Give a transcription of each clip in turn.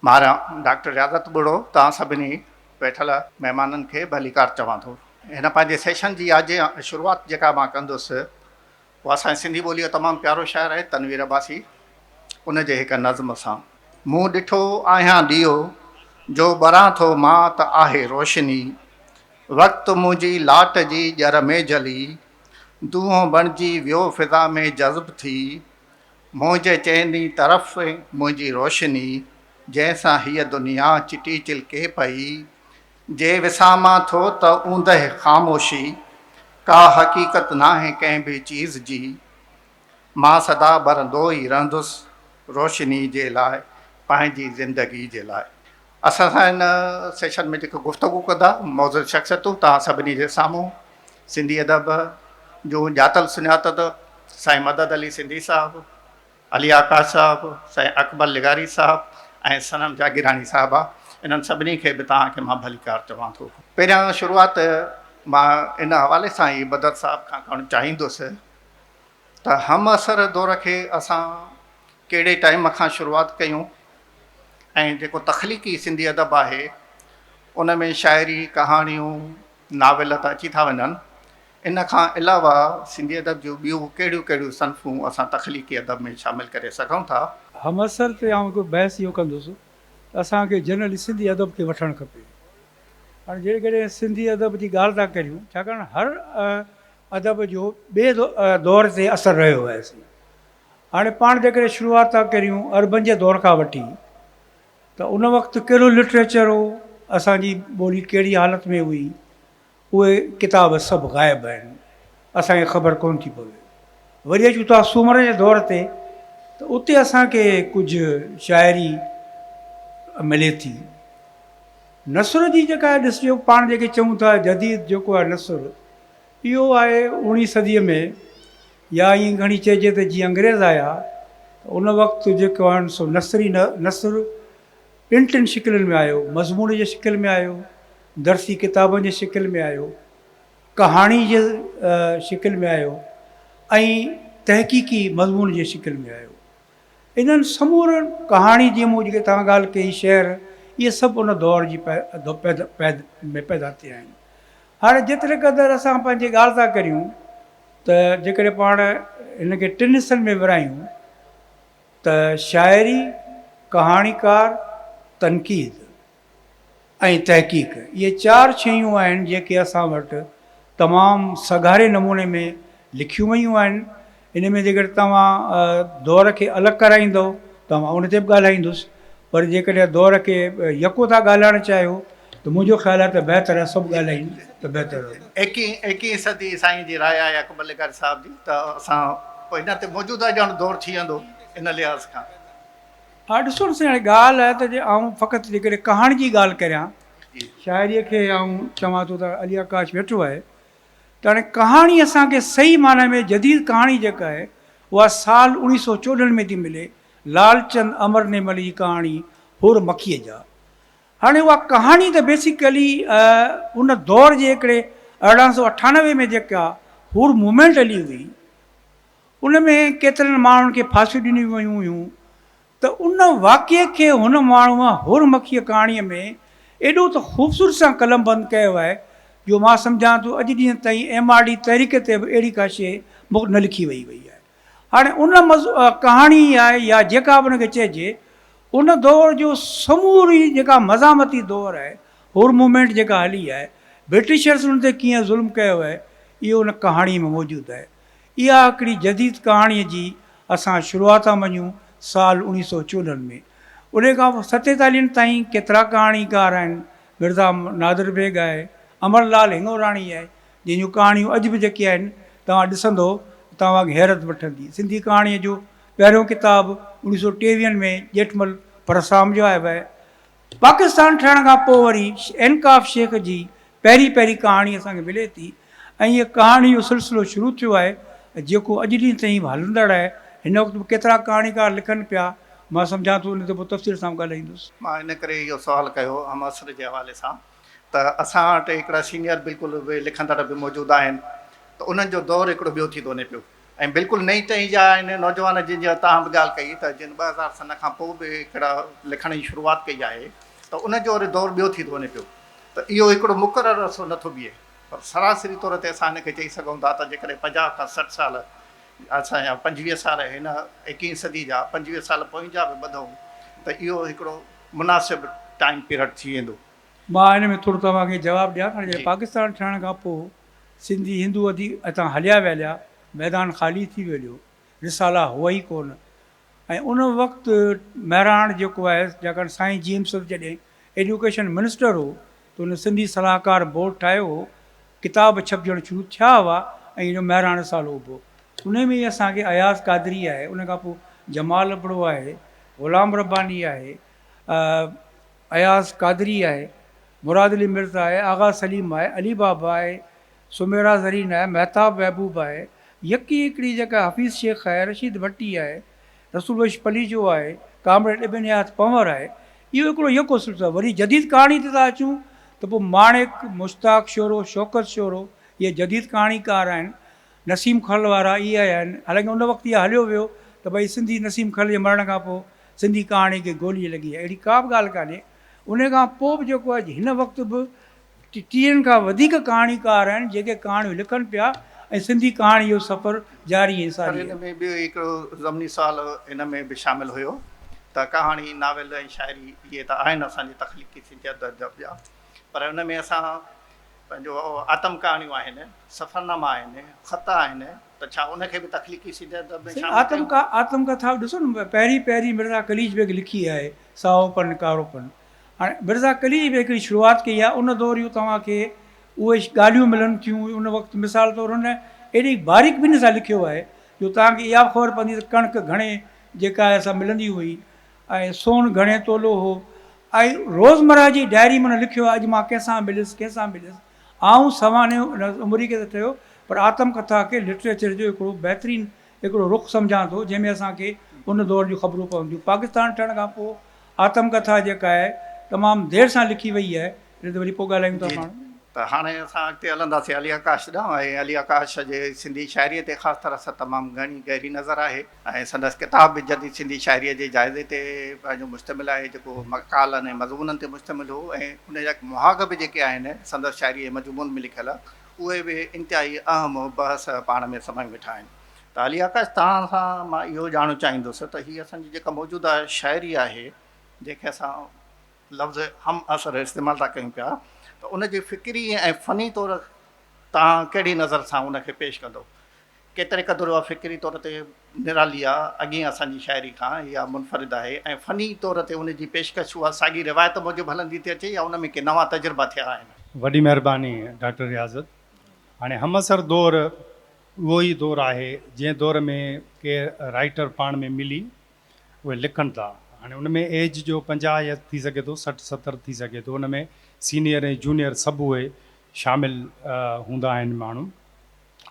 ماران، ڊاڪٽر رياضت ٻڙو توهان سڀني ويٺل مهمانن کي ڀليڪار چوان ٿو. هن پنهنجي سيشن جي آجي شروعات جيڪا مان ڪندس. هو اسان جي سنڌي ٻوليء جو تمام پيارو شاعر آهي تنوير عباسي ان جي هڪ نظم سان. مون ڏٺو آهيان ڏيئو جو ٻران ٿو مان ته آهي روشني وقت منهنجي لاٽ جي ڄر ۾ جلي دونهون بڻجي ويو فضا ۾ جذب ٿي منهنجي چئني طرف منهنجي روشني جنهن سان هيء دنيا چٽي چلڪي پئي جي وسامان ٿو ته اوندهه خاموشي ڪا حقيقت ناهي ڪنهن به چيز جي مان سدا ٻرندو ئي رهندس روشني جي لاء پنهنجي زندگي جي لاء. اسان سان هن سيشن ۾ جيڪي گفتگو ڪندا معزز شخصيتون توهان سڀني جي سامهون سنڌي ادب جون ڄاتل سڃاتل سائين مدد علي سنڌي صاحب، علي آڪاش صاحب، سائين اڪبر لغاري صاحب ۽ صنم جاگيراڻي صاحبه انهن سڀني کي به توهان کي مان ڀليڪار چوان ٿو. پهريان شروعات مان ان حوالي سان ئي بدر صاحب کان ڪرڻ چاهيندس ته همعصر دور کي اسان ڪهڙي ٽائيم کان شروعات ڪيون ۽ جيڪو تخليقي سنڌي ادب آهي ان ۾ شاعري، ڪهاڻيون، ناول ته اچي ٿا وڃن، ان کان علاوه سنڌي ادب جون ٻيون ڪهڙيون ڪهڙيون صنفون اسان تخليقي ادب ۾ شامل ڪري سگهون ٿا؟ همعصر تي آئون هڪ بحث اهو ڪندس ته اسان کي جنرلي سنڌي ادب کي وٺڻ کپي. هاڻي جيڪڏهن سنڌي ادب جي ڳالهه ٿا ڪريون، ڇاڪاڻ هر ادب جو ٻئي دور تي اثر رهيو آهي سي. هاڻي پاڻ جيڪڏهن شروعات ٿا ڪريون عربن جي دور کان وٺي ته ان وقت ڪهڙو لٽريچر هو، اسان جي ٻولي ڪهڙي حالت ۾ هئي، اهي ڪتاب سڀ غائب آهن، اسان کي خبر ڪونه ٿي پوي. وري اچون ٿا سومر جي دور تي ته اتي اسان کي ڪجهه شاعري ملي ٿي. نثر جي جيڪا ڏسجو پاڻ جيڪي چئون ٿا جديد جيڪو آهي نثر اهو آهي اوڻي صديء ۾ يا ائين گهڻي چئجي ته جي انگريز آيا ته ان وقت جيڪو آهن سو نثري نثر ٻن ٽن شڪلن ۾ آيو، مضمون جي شڪل ۾ آيو، درسي ڪتابن جي شڪل ۾ آيو، ڪهاڻي جي شڪل ۾ آيو ۽ تحقيقي مضمون جي شڪل ۾ آيو. انهن سمورن ڪهاڻي جي مون جيڪي توهان ڳالهه ڪئي، شعر، اهي سڀ ان دور جي پيد ۾ پيدا ٿيا آهن. هاڻي جيتري قدر اسان پنهنجي ڳالهه ٿا ڪريون ته جيڪڏهن پاڻ هن کي ٽن حصن ۾ ورهايون ته شاعري، ڪهاڻيڪار، تنقيد. ۽ تحقيق اهي چار شيون آهن جيڪي اسان وٽ تمام سگهاري نموني ۾ لکيون ويون آهن ان ۾ جيڪڏهن توهان دؤر کي الڳ ڪرائيندؤ ته مان ان تي به ڳالهائيندس پر جيڪڏهن دؤر کي يڪو ٿا ڳالهائڻ چاهيو ته منهنجو خيال آهي ته بهتر آهي سڀ ڳالهايون ته بهتر رهندو. ايڪيهين ايڪيهين صدي سائين جي راء آهي اڪبر لغاري صاحب جي ته اسان ان تي موجوده ڄڻ دؤر ٿي ويندو ان لحاظ کان. اھا ڏسو سائين ھاڻي ڳالھ آھي ته جي آئون فقط جيڪڏھن ڪھاڻي جي ڳالھ ڪريان شاعري کي آئون چوان ٿو ته علي آڪاش ويٺو آھي ته ھاڻي ڪھاڻي اسان کي صحيح معني ۾ جديد ڪھاڻي جيڪا آھي اھا سال اوڻيھ سؤ چوڏھن ۾ ٿي ملي لالچند امرنيمل جي ڪھاڻي ھور مکيء جا ھاڻي اھا ڪھاڻي ته بيسيڪلي ان دور جي ھڪڙي ارڙھن سؤ اٺانوي ۾ جيڪا ھور موومينٽ ھلي ھئي ان ۾ ڪيترن ماڻهن کي ڦاسيون ڏنيون ويون هيون ته ان واقعي کي هن ماڻهوء هور مکيه ڪهاڻيء ۾ ايڏو ته خوبصورت سان قلمبند ڪيو آهي جو مان سمجهان ٿو اڄ ڏينهن تائين ايم آر ڊي تحريڪ تي به اهڙي ڪا شيء مک نه لکي ويئي وئي آهي. هاڻي ان ڪهاڻي آء يا جيڪا به ان کي چئجي ان دور جو سموري جيڪا مزاحمتي دور آهي هور موومينٽ جيڪا هلي آهي برٽشرز ان تي ڪيئن ظلم ڪيو آهي اهو ان ڪهاڻيء ۾ موجود آهي. اها هڪڙي جديد ڪهاڻيء جي اسان شروعات ٿا مڃون سال اوڻيهه سئو چولهن ۾. انهيء کان پوء ستيتاليهن تائين ڪيترا ڪهاڻيڪار آهن، مرزا نادر بيگ آهي، امر لعل هنڱوراڻي آهي، جنهن جون ڪهاڻيون اڄ به جيڪي آهن، توهان ڏسندؤ ته توهان کي حيرت وٺندي. سنڌي ڪهاڻيء جو پهريون ڪتاب اوڻيهه سئو ٽيويهن ۾ ڄيٺمل پرسرام جو آهي. پاڪستان ٺهڻ کان پوء وري انڪاف شيخ جي پهرين پهرين ڪهاڻي اسان کي ملي ٿي ۽ هيء ڪهاڻي جو سلسلو شروع ٿيو آهي جيڪو اڄ ڏينهن تائين به هلندڙ آهي. هن وقت به ڪيترا ڪهاڻيڪار لکن پيا، مان سمجهان ٿو ان تي پوء تفصيل سان به ڳالهائيندس. مان ان ڪري اهو سوال ڪيو هئم عصر جي حوالي سان ته اسان وٽ هڪڙا سينيئر بلڪل اهي لکندڙ به موجود آهن ته انهن جو دور هڪڙو ٻيو ٿي ٿو وڃي پيو. ۽ بلڪل نئين ٽهي جا آهن نوجوان جن جي توهان به ڳالهه ڪئي ته جن ٻه هزار سن کان پوء به هڪڙا لکڻ جي شروعات ڪئي آهي ته ان جو وري دور ٻيو ٿي ٿو وڃي پيو ته اهو هڪڙو مقرر عرصو نه ٿو بيهي پر سراسري طور تي اسان هن کي چئي سگهون ٿا ته جيڪڏهن پنجاهه کان سٺ سال اسان يا پنجويهه سال هن ايڪيهين صدي جا پنجويهه سال پوئين جا به ٻڌون ته اهو هڪڙو مناسب ٽائيم پيرڊ ٿي ويندو. مان ان ۾ ٿورو توهان کي جواب ڏيان ٿا جڏهن پاڪستان ٺهڻ کان پوء سنڌي هندو اديب اتان هليا ويليا، ميدان خالي ٿي ويليو، رسالا هئا ئي ڪونه. ۽ ان وقت مهراڻ جيڪو آهي جاکان سائين جي ايم سرت جڏهن ايڊيوڪيشن منسٽر هو ته هن سنڌي صلاحڪار بورڊ ٺاهيو هو، ڪتاب ڇپجڻ شروع ٿيا هئا ۽ اهو مهراڻ رسالو اڀو. انهي ۾ ئي اسان کي اياز قادري آهي، ان کان پوء جمال ابڙو آهي، غلام رباني آهي، اياز قادري آهي، مراد علي مرزا آهي، آغا سليم آهي، علي بابا آهي، سميرا زرين آهي، مهتاب محبوب آهي، يڪي هڪڙي جيڪا حفيظ شيخ آهي، رشيد ڀٽي آهي، رسول بخش پليجو آهي، ڪامريڊ ابن نياز پنهور آهي. اهو هڪڙو يڪو سلسلو آهي. وري جديد ڪهاڻي تي ٿا اچون ته پوء ماڻڪ، مشتاق شورو، شوڪت شورو اهي جديد ڪهاڻيڪار آهن. نسيم کل وارا اهي آهن. حالانڪه ان وقت اهو هليو ويو ته ڀئي سنڌي نسيم کل جي مرڻ کان پوء سنڌي ڪهاڻي کي گولي لڳي آهي. اهڙي ڪا به ڳالهه ڪانهي. ان کان پوء به جيڪو آهي هن وقت به ٽيهن کان وڌيڪ ڪهاڻيڪار آهن جيڪي ڪهاڻيون لکن پيا ۽ سنڌي ڪهاڻي جو سفر جاري ۽ ساري آهي. پر هن ۾ ٻيو هڪڙو ضمني سوال هن ۾ به شامل هيو ته ڪهاڻي، ناول ۽ شاعري اهي ته آهن اسان جي تخليقي سنجيده ادب جا پر ان ۾ اسان پنهنجو آتم ڪهاڻيون آهن، سفرناما آهن، خط آهن ته ڇا ان کي به تخليقي سيڌي ادب ۾ شامل ڪيون؟ سائين آتم آتم ڪٿا به ڏسو نه پهرين پهرين مرزا قليچ بيگ لکي آهي سائو پن ڪارو پن هاڻي مرزا قليچ بيگ هڪڙي شروعات ڪئي آهي ان دور جون توهان کي اهي ڳالهيون ملن ٿيون ان وقت مثال طور هن ايڏي باريڪ بيني سان لکيو آهي جو توهان کي اها به خبر پوندي ته ڪڻڪ گهڻي جيڪا آهي سا ملندي هئي اي سون گهڻي تولو هو. اي روزمره جي ڊائري ۾ نه لکيو آهي اڄ مان ڪنهن سان مليس ڪنهن سان مليس. آئون سوانحيو ان عمري کي ته ٺهيو پر آتم ڪٿا کي لٽريچر جو هڪڙو بهترين هڪڙو رخ سمجهان ٿو جنهن ۾ اسان کي ان دور جون خبرون پون ٿيون. پاڪستان ٺهڻ کان پوء آتم ڪٿا جيڪا آهي تمام دير سان لکي وئي آهي ان تي وري پوء ڳالهايون ٿا پاڻ. ته هاڻي اسان اڳتي هلنداسين علي آڪاش ڏانهن ۽ علي آڪاش جي سنڌي شاعريء تي خاص طرح سان تمام گهڻي گهري نظر آهي. ۽ سندس ڪتاب به جديد سنڌي شاعريء جي جائزي تي پنهنجو مشتمل آهي، جيڪو مقالن ۽ مضمونن تي مشتمل هو ۽ ان جا مهاڳ به جيڪي آهن، سندس شاعريء جي مضمون ۾ لکيل، اهي به انتهائي اهم بحث پاڻ ۾ سمائي ويٺا آهن. ته علي آڪاش توهان سان مان اهو ڄاڻڻ چاهيندس ته هي اسان جي جيڪا موجوده شاعري آهي، جنهن کي اسان لفظ همعصر استعمال ٿا ڪيون پيا، ته ان جي فڪري ۽ فني طور توهان ڪهڙي نظر سان ان کي پيش ڪندو؟ ڪيتري قدر اها فڪري طور تي نرالي آ، اڳين اسان جي شاعري کان اها منفرد آهي ۽ فني طور تي ان جي پيشڪش اها ساڳي روايت موجب هلندي ٿي اچي يا ان ۾ ڪي نوان تجربا ٿيا آهن. وڏي مهرباني ڊاڪٽر رياضت. هاڻي همعصر دور اهو ئي دور آهي جنهن دور ۾ ڪي رائيٽر پاڻ ۾ ملي اهي لکن ٿا. هاڻي ان ۾ ايج جو پنجاهه يا ٿي سگهي ٿو سٺ ستر ٿي سگهي ٿو ان ۾ سينيئر ۽ جونيئر سڀ اهي شامل هوندا آهن ماڻهو.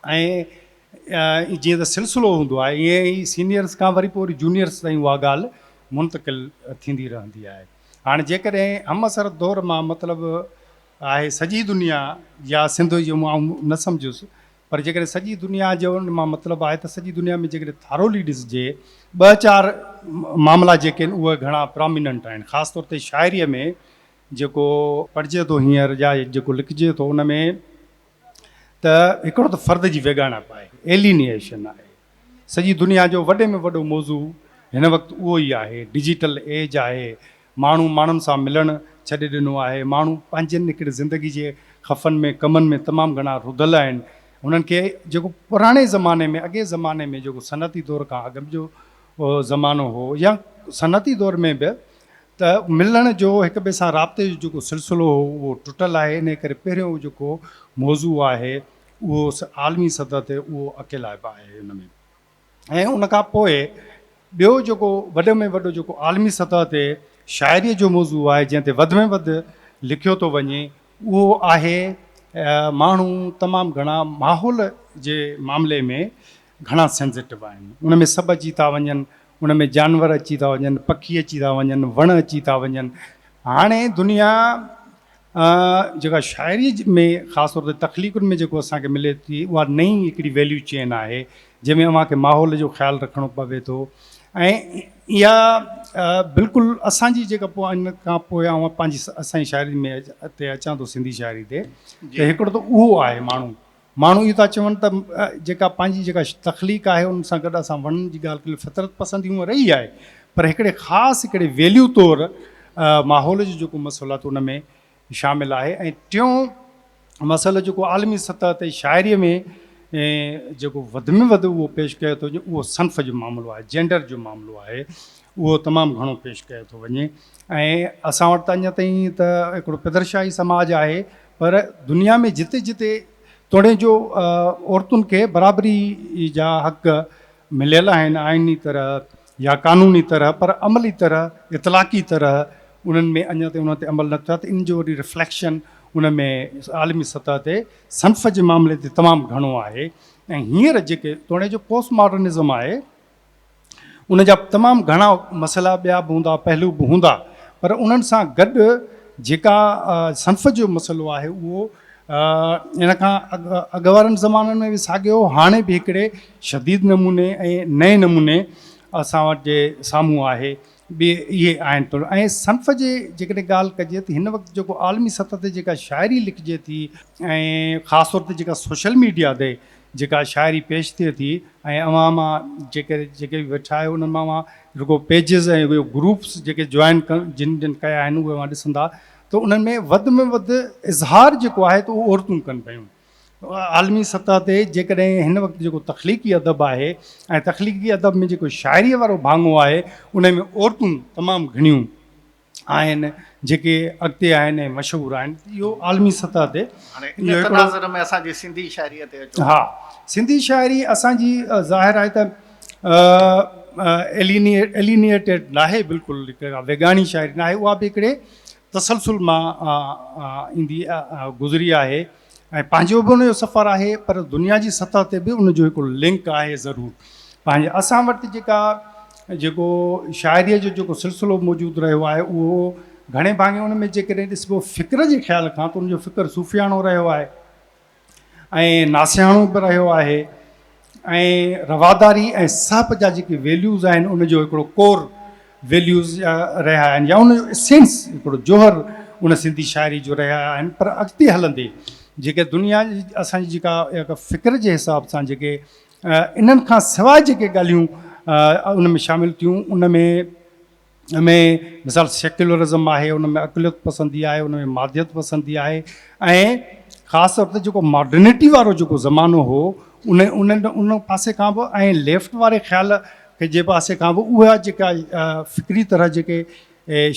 ۽ جيئن ته سلسلو هوندو آهي ايئن ئي سينيئرس کان وري پوء وري جونيئرس تائين اها ڳالهه منتقل ٿيندي رهندي آهي. هاڻ جيڪڏهن همعصر دور مان مطلب آهي سڄي دنيا يا سنڌ جو آئون نه سمجهيس پر جيڪڏهن سڄي دنيا جو ان مان مطلب آهي ته سڄي دنيا ۾ جيڪڏهن ٿارولي ڏسجي ٻه چار معاملا جيڪي آهن اهي گهڻا پراميننٽ آهن خاص طور تي شاعريء ۾ جيڪو پڙهجي ٿو هينئر يا جيڪو لکجي ٿو ان ۾ ته هڪڙو ته فرد جي ويڳاڻپ آهي، Alienation، آهي. سڄي دنيا جو وڏي ۾ وڏو موضوع هن وقت اهو ئي آهي. ڊجيٽل ايج آهي، ماڻهو ماڻهن سان ملڻ ڇڏي ڏنو آهي، ماڻهو پنهنجين هڪڙي زندگي جي خفن ۾ ڪمن ۾ تمام گهڻا رڌل آهن، هنن کي جيڪو پراڻي زماني ۾ اڳئين زماني ۾ جيڪو صنعتي دور کان اڳ جو زمانو هو يا صنعتي دور ۾ به ته ملڻ جو هڪ ٻئي سان رابطي جو جيڪو سلسلو هو اهو ٽٽل آهي انهي ڪري پهريون جيڪو موضوع آهي اهو عالمي سطح تي اهو اڪيلائپ آهي ان ۾ ۽ ان کان پوء ٻيو جيڪو وڏي ۾ وڏو جيڪو عالمي سطح تي شاعري جو موضوع آهي جنهن تي وڌ ۾ وڌ لکيو ٿو وڃي اهو آهي ماڻهو تمام گهڻا ماحول جي معاملي ۾ گهڻا سينسيٽو آهن ان ۾ سڀ اچي ٿا وڃن ان ۾ جانور اچي ٿا وڃن پکي اچي ٿا وڃن وڻ اچي ٿا وڃن هاڻي دنيا جيڪا شاعري ۾ خاص طور تي تخليقن ۾ جيڪو اسان کي ملي ٿي اها نئين هڪڙي ويليو چين آهي جنهن ۾ اوهان کي ماحول جو خيال رکڻو پوي ٿو ۽ اها بلڪل اسان جي جيڪا پوء ان کان پوء اوهان پنهنجي اسان جي شاعري ۾ تي اچان ٿو سنڌي شاعري تي ته هڪڙو ته اهو آهي ماڻهو ماڻهو اهو ٿا چون ته جيڪا پنهنجي جيڪا تخليق آهي ان سان گڏ اسان وڻن جي ڳالهه ڪريون فطرت پسندي هونء رهي آهي پر هڪڙي خاص هڪڙي ويليو طور ماحول جو جيڪو مسئلو آهي ته ان ۾ شامل آهي ۽ ٽيون مسئلو جيڪو عالمي سطح تي شاعري ۾ جيڪو وڌ ۾ وڌ اهو پيش ڪيو ٿو وڃي اهو صنف جو معاملو آهي جينڊر جو معاملو آهي اهو تمام گهڻو پيش ڪيو ٿو وڃي ۽ اسان وٽ ته اڃا تائين ته هڪڙو پدرشاهي سماج آهي پر دنيا ۾ جتي جتي توڙي جو عورتن کي برابري جا حق مليل آهن آئيني طرح يا قانوني طرح پر عملي طرح اطلاقي طرح انهن ۾ اڃا تائين انهن تي عمل نه ٿيو آهي ته ان جو وري رفليڪشن ان ۾ عالمي سطح تي صنف جي معاملي تي تمام گهڻو آهي ۽ هينئر جيڪي توڙي جو پوسٽ ماڊرنزم آهي ان جا تمام گهڻا مسئلا ٻيا به هوندا پهلو به هوندا پر انهن سان گڏ جيڪا صنف جو مسئلو آهي اهو ان کان اڳ وارن زمانن ۾ به ساڳيو هاڻي به هڪڙي شديد نموني ۽ نئين نموني اسان وٽ جي سامهون آهي ٻي اهي آهن ٿورا ۽ صنف جي جيڪڏهن ڳالهه ڪجي ته هن وقت جيڪو عالمي سطح تي جيڪا شاعري لکجي ٿي ۽ خاص طور تي جيڪا سوشل ميڊيا تي جيڪا شاعري پيش ٿئي ٿي ۽ اوهان مان جيڪي جيڪي به ويٺا آهيو انهن مان اوهان رڳو پيجز ۽ اهي گروپس جيڪي جوائن جن جن ڪيا آهن اهي اوهان ڏسندا ته انهن ۾ وڌ ۾ وڌ اظهار جيڪو آهي ته اهو عورتون ڪن پيون عالمي سطح تي جيڪڏهن هن وقت جيڪو تخليقي ادب آهي ۽ تخليقي ادب ۾ جيڪو شاعري وارو ڀاڱو آهي انهي ۾ عورتون تمام گهڻيون آهن جيڪي اڳتي آهن ۽ مشهور آهن اهو عالمي سطح تي هاڻي ان تناظر ۾ اسان جي سنڌي شاعريء تي اچو ها سنڌي شاعري اسان جي ظاهر آهي ته الينيٽيڊ ناهي بلڪل ويڳاڻي شاعري ناهي اها به هڪڙي تسلسل مان ايندي گذري آهي ۽ پنهنجو به ان جو سفر آهي پر دنيا جي سطح تي به ان جو هڪ لنڪ آهي ضرور پنهنجي اسان وٽ جيڪا جيڪو شاعريء جو جيڪو سلسلو موجود رهيو آهي اهو گهڻي ڀاڱي ان ۾ جيڪڏهن ڏسبو فڪر جي خيال کان ته ان جو فڪر صوفياڻو رهيو آهي ۽ ناسياڻو به رهيو آهي ۽ رواداري ۽ سهپ جا جيڪي ويليوز آهن ان جو هڪڙو ڪور ويليوز رهيا آهن يا ان جو اسينس هڪڙو جوهر ان سنڌي شاعري جو رهيا آهن پر اڳتي هلندي جيڪي دنيا جي اسان جي جيڪا فڪر جي حساب سان جيڪي انهن کان سواء جيڪي ڳالهيون ان ۾ شامل ٿيون ان ۾ ان ۾ مثال سيڪيولرزم آهي، ان ۾ اقليت پسندي آهي، ان ۾ ماديت پسندي آهي ۽ خاص طور تي جيڪو ماڊرنٽي وارو جيڪو زمانو هو ان انهن ان پاسي کان به ۽ ليفٽ واري خيال کي جي پاسي کان به اها جيڪا فڪري طرح جيڪي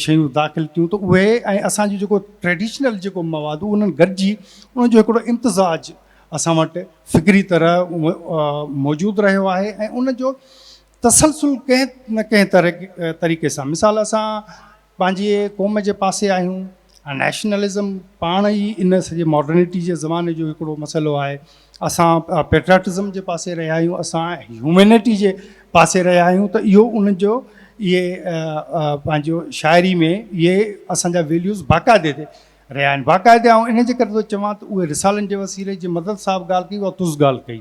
شيون داخل ٿيون ته اهي ۽ اسان جو جيڪو ٽريڊيشنل جيڪو مواد انهن گڏجي ان جو هڪڙو امتزاج اسان وٽ فڪري طرح موجود رهيو آهي ۽ ان جو تسلسل ڪنهن نه ڪنهن طريقي سان مثال اسان پنهنجي قوم جي پاسي آهيون ۽ نيشنلزم پاڻ ئي ان سڄي ماڊرنٽي جي زماني جو هڪڙو مسئلو آهي اسان پيٽرياٽزم جي پاسي رهيا آهيون اسان هيومينٽي جي پاسي رهيا آهيون ته اهو ان جو اهي پنهنجو شاعري ۾ اهي اسان جا ويليوز باقاعدي تي رهيا آهن باقاعده آئون ان جي ڪري ٿو چوان ته اهي رسالن جي وسيلي جي مدد صاحب ڳالهه ڪئي اها تز ڳالهه ڪئي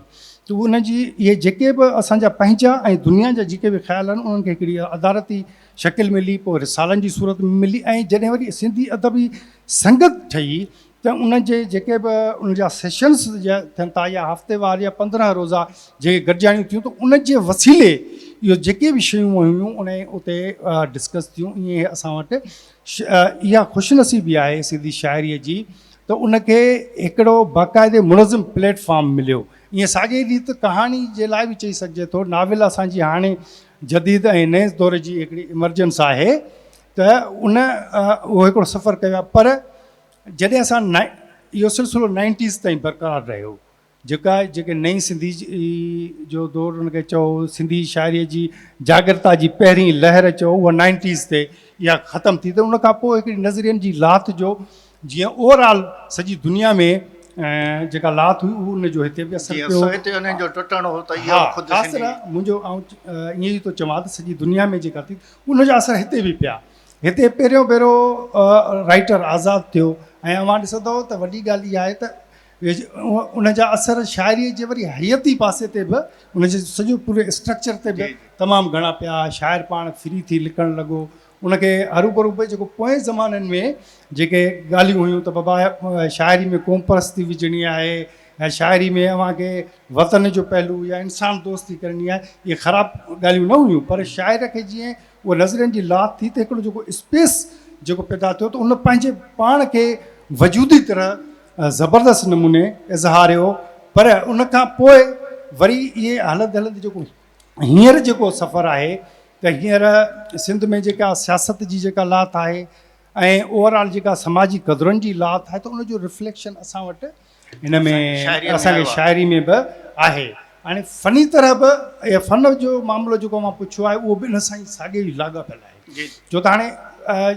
ته ان جي اهي جيڪي به اسان جا پنهنجا ۽ دنيا جا جيڪي به خيال آهن انهن کي هڪڙي ادارتي شڪل ملي پوء رسالن جي صورت ۾ ملي ۽ جڏهن وري سنڌي ادبي سنگت ٺهي ته ان جي جيڪي به ان جا سيشنس ٿين ٿا يا هفتي وار يا پندرهن روزا جيڪي گڏجاڻيون ٿيون ته ان جي وسيلي اهو جيڪي به شيون هيون انهي اتي ڊسڪس ٿيون ائين اسان وٽ اها خوش نصيبي آهي سنڌي شاعريء جي ته ان کي هڪڙو باقاعدي منظم پليٽ فارم مليو. ايئن ساڳيء ريت ڪهاڻي جي لاء به چئي سگهجي ٿو. ناول اسان جي هاڻي جديد ۽ نئين دور جي هڪڙي ايمرجنس آهي ته ان اهو هڪڙو سفر ڪيو آهي پر جڏهن اسان اهو سلسلو نائنٽيز تائين برقرار رهيو جيڪا جيڪي نئين سنڌي جو دور ان کي چئو سنڌي شاعري جي جاڳرتا جي پهرين لهر چئو اها نائنٽيز تي اها ختم ٿي ته ان کان پوء هڪڙي نظرين جي لاٿ جو جيئن اوور آل سڄي دنيا ۾ جيڪا لاٿ هئي اهو ان جو هتي به اثر پيو سو هتي انهن جو ٽٽڻ هو ته اها خود خاص طرح منهنجو ائين ئي ٿو چوان ته سڄي دنيا ۾ جيڪا ٿي ان جا اثر هتي به پيا هتي پهريون ڀيرو رائيٽر آزاد ٿيو ۽ اوهان ڏسندو ته وڏي ڳالهه اها آهي ته ان جا اثر شاعريء جي وري حياتي پاسي تي به ان جي سڄو پوري اسٽرڪچر تي به تمام گهڻا پيا. شاعر پاڻ فري ٿي لکڻ لڳو. ان کي هروڀرو به جيڪو پوئين زمانن ۾ جيڪي ڳالهيون هيون ته بابا شاعري ۾ قوم پرستي وجهڻي آهي يا شاعري ۾ اوهان کي وطن جو پهلو يا انسان دوستي ڪرڻي آهي اهي خراب ڳالهيون نه هيون پر شاعر کي جيئن اهو نظرين جي لاٿ ٿي ته هڪڙو جيڪو اسپيس جيڪو پيدا ٿيو ته ان پنهنجي پاڻ کي وجودي طرح زبردست نموني اظهاريو پر ان کان پوء وري اهي هلندي هلندي جيڪو هينئر جيڪو سفر آهي ته هينئر سنڌ ۾ جيڪا سياست جي جيڪا لاٿ آهي ۽ اوور آل جيڪا سماجي قدرن جي لاٿ آهي ته ان جو رفليڪشن اسان وٽ ان ۾ اسان کي شاعري ۾ به آهي هاڻي فني طرح به اهي فن جو معاملو جيڪو مان پڇيو آهي اهو به ان سان ئي ساڳيو ئي لاڳاپيل آهي جو ته هاڻي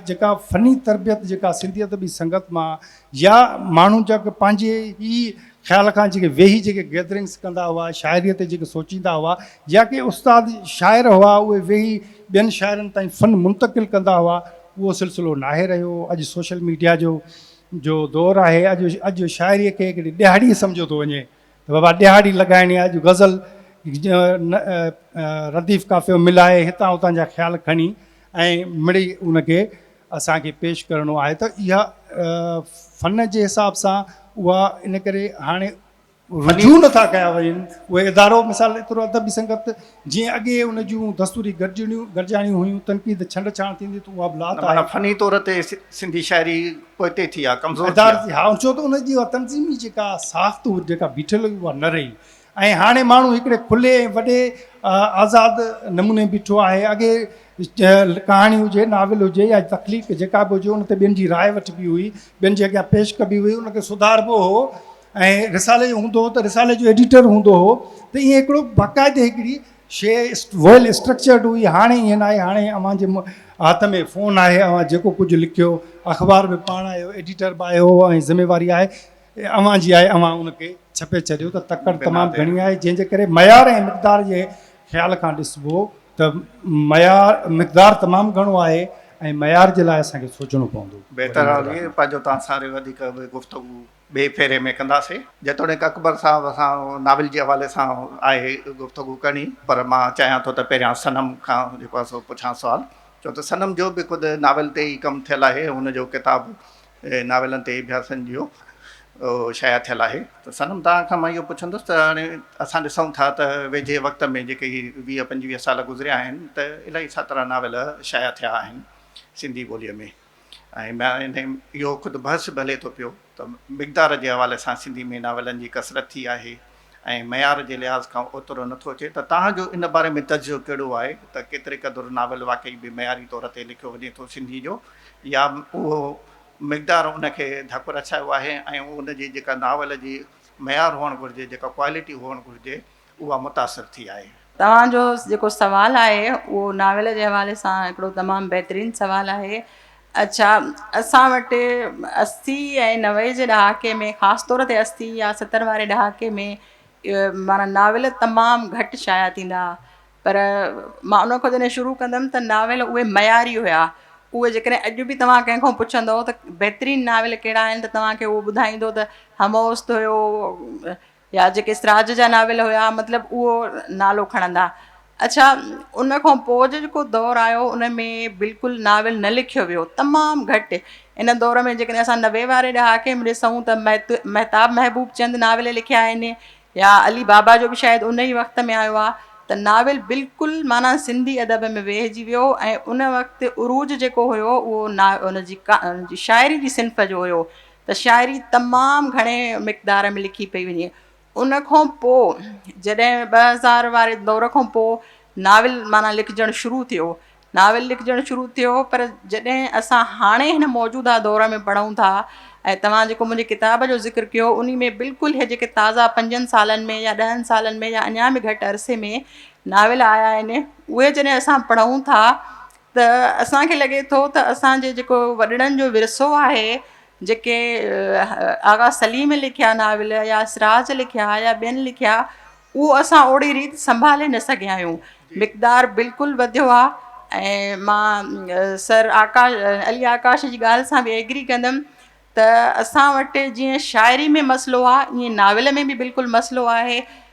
جيڪا فني تربيت جيڪا سنڌي ادبي سنگت مان يا ماڻهو جا ڪي پنهنجي ئي خيال کان جيڪي ويهي جيڪي گيدرنگس ڪندا هئا شاعريء تي جيڪي سوچيندا هئا يا ڪي استاد شاعر هئا اهي ويهي ٻين شاعرن تائين فن منتقل ڪندا هئا اهو سلسلو ناهي رهيو اڄ سوشل ميڊيا جو جو دور آهي، اڄ اڄ شاعريء کي هڪڙي ڏهاڙي سمجهيو ٿو وڃي ته بابا ڏهاڙي لڳائڻي آهي، اڄ غزل رديف قافيو ملائي هتان هتان جا خيال کڻي ۽ مڙئي ان کي اسان کي پيش ڪرڻو آهي ته اها فن جي حساب سان اها ان ڪري هاڻي رجوع نٿا ڪيا وڃن اهي ادارو مثال ايترو ادبي سنگت جيئن اڳي ان جون دستوري گڏجڻيون گڏجاڻيون هيون تنقيد ڇنڊ ڇاڻ ٿيندي ته اها به لات آهي. معنيٰ فني طور تي سنڌي شاعري پوئتي ٿي آهي ڪمزور ٿي آهي. ها ڇو ته ان جي اها تنظيمي جيڪا ساخت جيڪا بيٺل هئي اها نه رهي ۽ هاڻي ماڻهو هڪڙي کلي ۽ وڏي آزاد نموني بيٺو آهي اڳي ڪهاڻي هجي ناول هجي يا تخليق جيڪا به هجي ان تي ٻين جي راء وٺبي هئي ٻين جي اڳيان پيش ڪبي هئي ان کي سڌاربو هو ۽ رسالي جو هوندو هو ته رسالي جو ايڊيٽر هوندو هو ته ايئن هڪڙو باقاعدي هڪڙي شيء ويل اسٽرڪچرڊ هئي هاڻي ايئن ناهي هاڻي اوهان جي هٿ ۾ فون آهي اوهان جيڪو ڪجهه لکيو اخبار به پاڻ آهيو ايڊيٽر به آهيو ۽ ذميواري آهي اوهان جي آهي اوهان ان کي ڇپي ڇڏيو ته تڪڙ تمام گهڻي آهي جنهن جي ڪري معيار ۽ مقدار جي خيال کان ڏسبو ته معيار مقدار تمام گهڻو آهي ۽ معيار جي لاء اسان کي سوچڻو پوندو. بهتر حال اهي پنهنجو تان ساري وڌيڪ به گفتگو. ٻئي ڦيري ۾ ڪنداسين. جيتوڻيڪ اڪبر صاحب سان ناول جي حوالي سان آهي گفتگو ڪرڻي پر مان چاهيان ٿو ته پهريان صنم کان جيڪو آهي سو پڇان سوال ڇو ته صنم جو به خود ناول تي ئي ڪم ٿيل آهي هن جو ڪتاب ناولن تي اڀياسن جيو شايع ٿيل آهي. ته صنم توهان کان مان اهو پڇندس ته هاڻي اسان ڏسون ٿا ته ويجهي وقت ۾ جيڪي هي ويهه پنجويهه سال گذريا آهن ته الاهي ساترا ناول شايع ٿيا آهن سنڌي ٻوليء ۾. ۽ اهو خود بحث به هلي ٿو پيو ته مقدار جي حوالي سان سنڌي ۾ ناولن جي ڪثرت ٿي آهي ۽ معيار جي لحاظ کان اوترو نه ٿو اچي ته توهان جو ان باري ۾ تجزيو ڪهڙو آهي ته ڪيتري قدر ناول واقعي به معياري طور تي لکيو وڃي ٿو سنڌي جو يا اهو مقدار ان کي ڌڪ رسايو آهي ۽ ان جي جيڪا ناول جي معيار هئڻ گهرجي جيڪا ڪوالٽي هئڻ گهرجي اها متاثر ٿي آهي. توهان جو جيڪو سوال آهي اهو ناول جي حوالي سان هڪڙو تمام بهترين سوال آهي. اڇا اسان وٽ اسي ۽ نوي جي ڏهاڪي ۾ خاص طور تي اسي يا ستر واري ڏهاڪي ۾ معنيٰ ناول تمام گهٽ شايع ٿيندا هئا پر مان ان کان جڏهن شروع ڪندم ته ناول اهي معياري هيا اهي جيڪڏهن اڄ به توهان ڪنهن کان پڇندو ته بهترين ناول ڪهڙا آهن ته توهان کي اهو ٻڌائيندو ته هموست هيو يا جيڪي سراج جا ناول هيا مطلب اهو نالو کڻندا. اڇا ان کان پوء جو جيڪو دور آيو ان ۾ بلڪل ناول نه لکيو ويو تمام گهٽ ان دور ۾ جيڪڏهن اسان نوي واري ڏهاڪي ۾ ڏسون ته مهتاب محبوب چند ناول لکيا آهن يا علي بابا جو به شايد ان ئي وقت ۾ آيو آهي ته ناول بلڪل معنيٰ سنڌي ادب ۾ ويهجي ويو ۽ ان وقت عروج جيڪو هيو اهو ان جي شاعري جي صنف جو هيو ته شاعري تمام گهڻي مقدار ۾ لکي پئي وڃي. ان کان پوء جڏهن ٻه هزار واري دور کان پوء ناول معنيٰ لکجڻ شروع ٿيو، ناول لکجڻ شروع ٿيو پر جڏهن اسان هاڻي هن موجوده دور ۾ پڙهون ٿا ۽ توهان جيڪو منهنجي ڪتاب جو ذڪر ڪيو انهي ۾ بلڪل هي جيڪي تازا پنجن سالن ۾ يا ڏهن سالن ۾ يا اڃا به گهٽ عرصي ۾ ناول آيا آهن اهي جڏهن اسان پڙهون ٿا ته اسان کي لڳي ٿو ته اسان جي جيڪو وڏڙن جو ورثو آهي جيڪي آغا سليم لکيا ناول يا سراج لکيا يا ٻين لکيا اهو اسان اوڙي ريت سنڀالي نه سگهيا آهيون مقدار بلڪل وڌيو آهي ۽ مان سر آڪا علي آڪاش جي ڳالهه سان به ايگري ڪندم ته اسان وٽ جيئن شاعري ۾ مسئلو آهي ائين ناول ۾ به بلڪل مسئلو آهي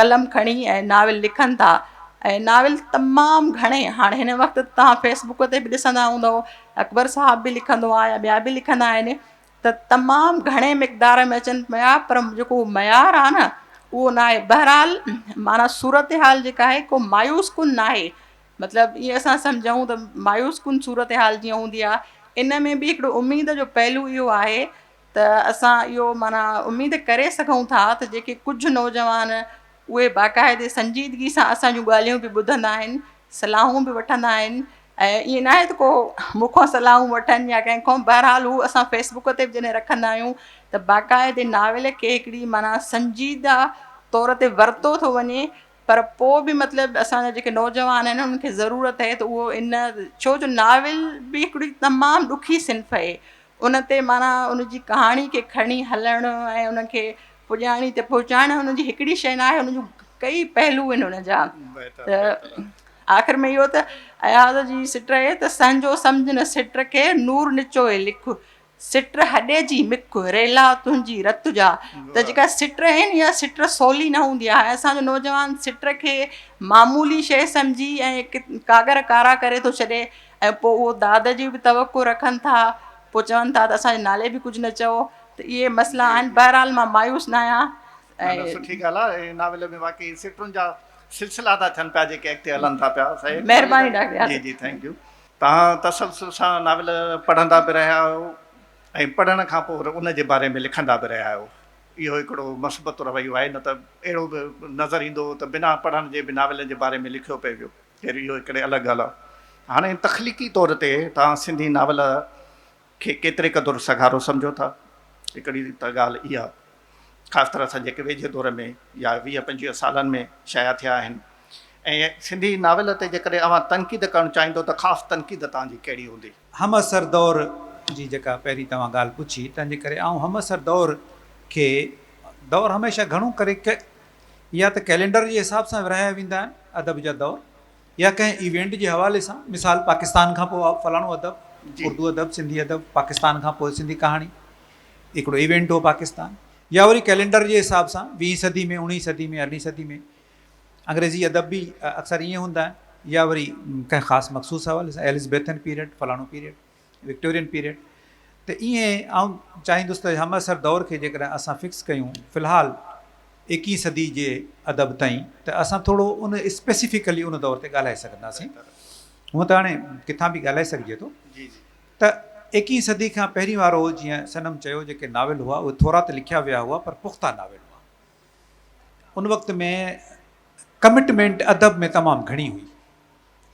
قلم کڻي ۽ ناول لکن ٿا ۽ ناول تمام گهڻي هاڻي هن وقت توهان فيس بڪ تي به ڏسندا هوندؤ اڪبر صاحب به لکندو آهي يا ٻيا به لکندا آهن ته تمام گهڻي مقدار ۾ اچن پيا پر جيڪو معيار آهي نه اهو نه آهي بهرحال معنيٰ صورت حال جيڪا آهي ڪو مايوس ڪن نه آهي مطلب ائين اسان سمجهون ته مايوس ڪن صورت حال جيئن هوندي آهي ان ۾ به هڪڙو اميد جو پهلو اهو آهي ته اسان اهو معنيٰ اميد ڪري سگهون ٿا ته جيڪي ڪجهه نوجوان اهي باقاعدي سنجيدگي سان اسان جون ڳالهيون به ٻڌندا آهن صلاحون به وٺندا آهن ۽ ائين ناهي ته ڪو مون کان صلاحون وٺن يا ڪنهن کان بهرحال هو اسان فيسبوڪ تي جڏهن رکندا آهيون ته باقاعدي ناول کي هڪڙي معنيٰ سنجيده طور تي ورتو ٿو وڃي پر پوء به مطلب اسان جا جيڪي نوجوان آهن انهن کي ضرورت اهي ته اهو ان ڇو جو ناول به هڪڙي تمام ڏکي صنف اهي ان تي معنيٰ ان جي ڪهاڻي کي کڻي هلڻ ۽ ان کي پڄاڻي تي پهچائڻ ان جي هڪڙي شيء نه آهي ان جون ڪئي پهلو آهن ان جا آخر ۾ اهو ته اياز جي سٽ اهي ته سهنجو سمجهه نه سٽ کي نور نچوء لک سٽر هڏي جي مک ريلا تنهنجي رت جا ته جيڪا سٽر آهن اها سٽر سولي نه هوندي آهي اسان جو نوجوان سٽر کي معمولي شيء سمجهي ۽ ڪاڳر ڪارا ڪري ٿو ڇڏي ۽ پوء اهو داد جي به توقع رکن ٿا پوء چون ٿا ته اسان جي نالي به ڪجهه نه چئو ته اهي مسئلا آهن بهرحال مان مايوس نه آهيان نه نه سٺي ڳالهه آهي هن ناول ۾ واقعي سٽرن جا سلسلا ٿا ٿين پيا جيڪي اڳتي هلن ٿا پيا مهرباني ڊاڪٽر جي جي ٿينڪ يو توهان تسلسل سان ناول پڙهندا به رهيا آهيو ۽ پڙهڻ کان پوء وري ان جي باري ۾ لکندا به رهيا آهيو. اهو هڪڙو مثبت رويو آهي، نه ته اهڙو به نظر ايندو هو ته بنا پڙهڻ جي به ناولن جي باري ۾ لکيو پئي ويو. خير اهو هڪڙي الڳ ڳالهه آهي. هاڻي تخليقي طور تي توهان سنڌي ناول. کي ڪيتري قدر سگهارو سمجهو ٿا؟ هڪڙي ته ڳالهه اها خاص طرح سان جيڪي ويجهي دور ۾ يا ويهه پنجويهه سالن ۾ شايع ٿيا آهن ۽ سنڌي ناول تي جيڪڏهن اوهان تنقيد ڪرڻ چاهيندو ته خاص تنقيد توهان جي ڪهڙي هوندي؟ همعصر دور جي جيڪا پهرين توهان ڳالهه پڇي تنهن جي ڪري آئون همعصر دور کي دور هميشه گهڻو ڪري ڪه يا ته ڪئلينڊر جي حساب سان ورهايا ويندا آهن ادب جا دور يا ڪنهن ايونٽ جي حوالي سان مثال پاڪستان کان پوء فلاڻو ادب اردو ادب سنڌي ادب پاڪستان کان پوء سنڌي ڪهاڻي هڪڙو ايونٽ هو پاڪستان يا وري ڪئلينڊر جي حساب سان ويهين صدي ۾ اوڻيهين صدي ۾ ارڙهين صدي ۾ انگريزي ادب به اڪثر ائين هوندا آهن يا وري ڪنهن خاص مخصوص حوالي سان ايلزبيٿن پيريڊ فلاڻو پيريڊ وڪٽورين پيريڊ ته ائين آئون چاهيندس ته همعصر دور کي جيڪڏهن اسان فڪس ڪيون في الحال ايڪيهين صدي جي ادب تائين ته اسان ٿورو ان اسپيسيفڪلي ان دور تي ڳالهائي سگهنداسين هونء ته هاڻي ڪٿان به ڳالهائي سگهجي ٿو ته ايڪيهين صدي کان پهرين وارو جيئن صنم چيو جيڪي ناول هئا اهي ٿورا ته لکيا ويا هئا پر پختا ناول هئا ان وقت ۾ ڪمٽمينٽ ادب ۾ تمام گهڻي هئي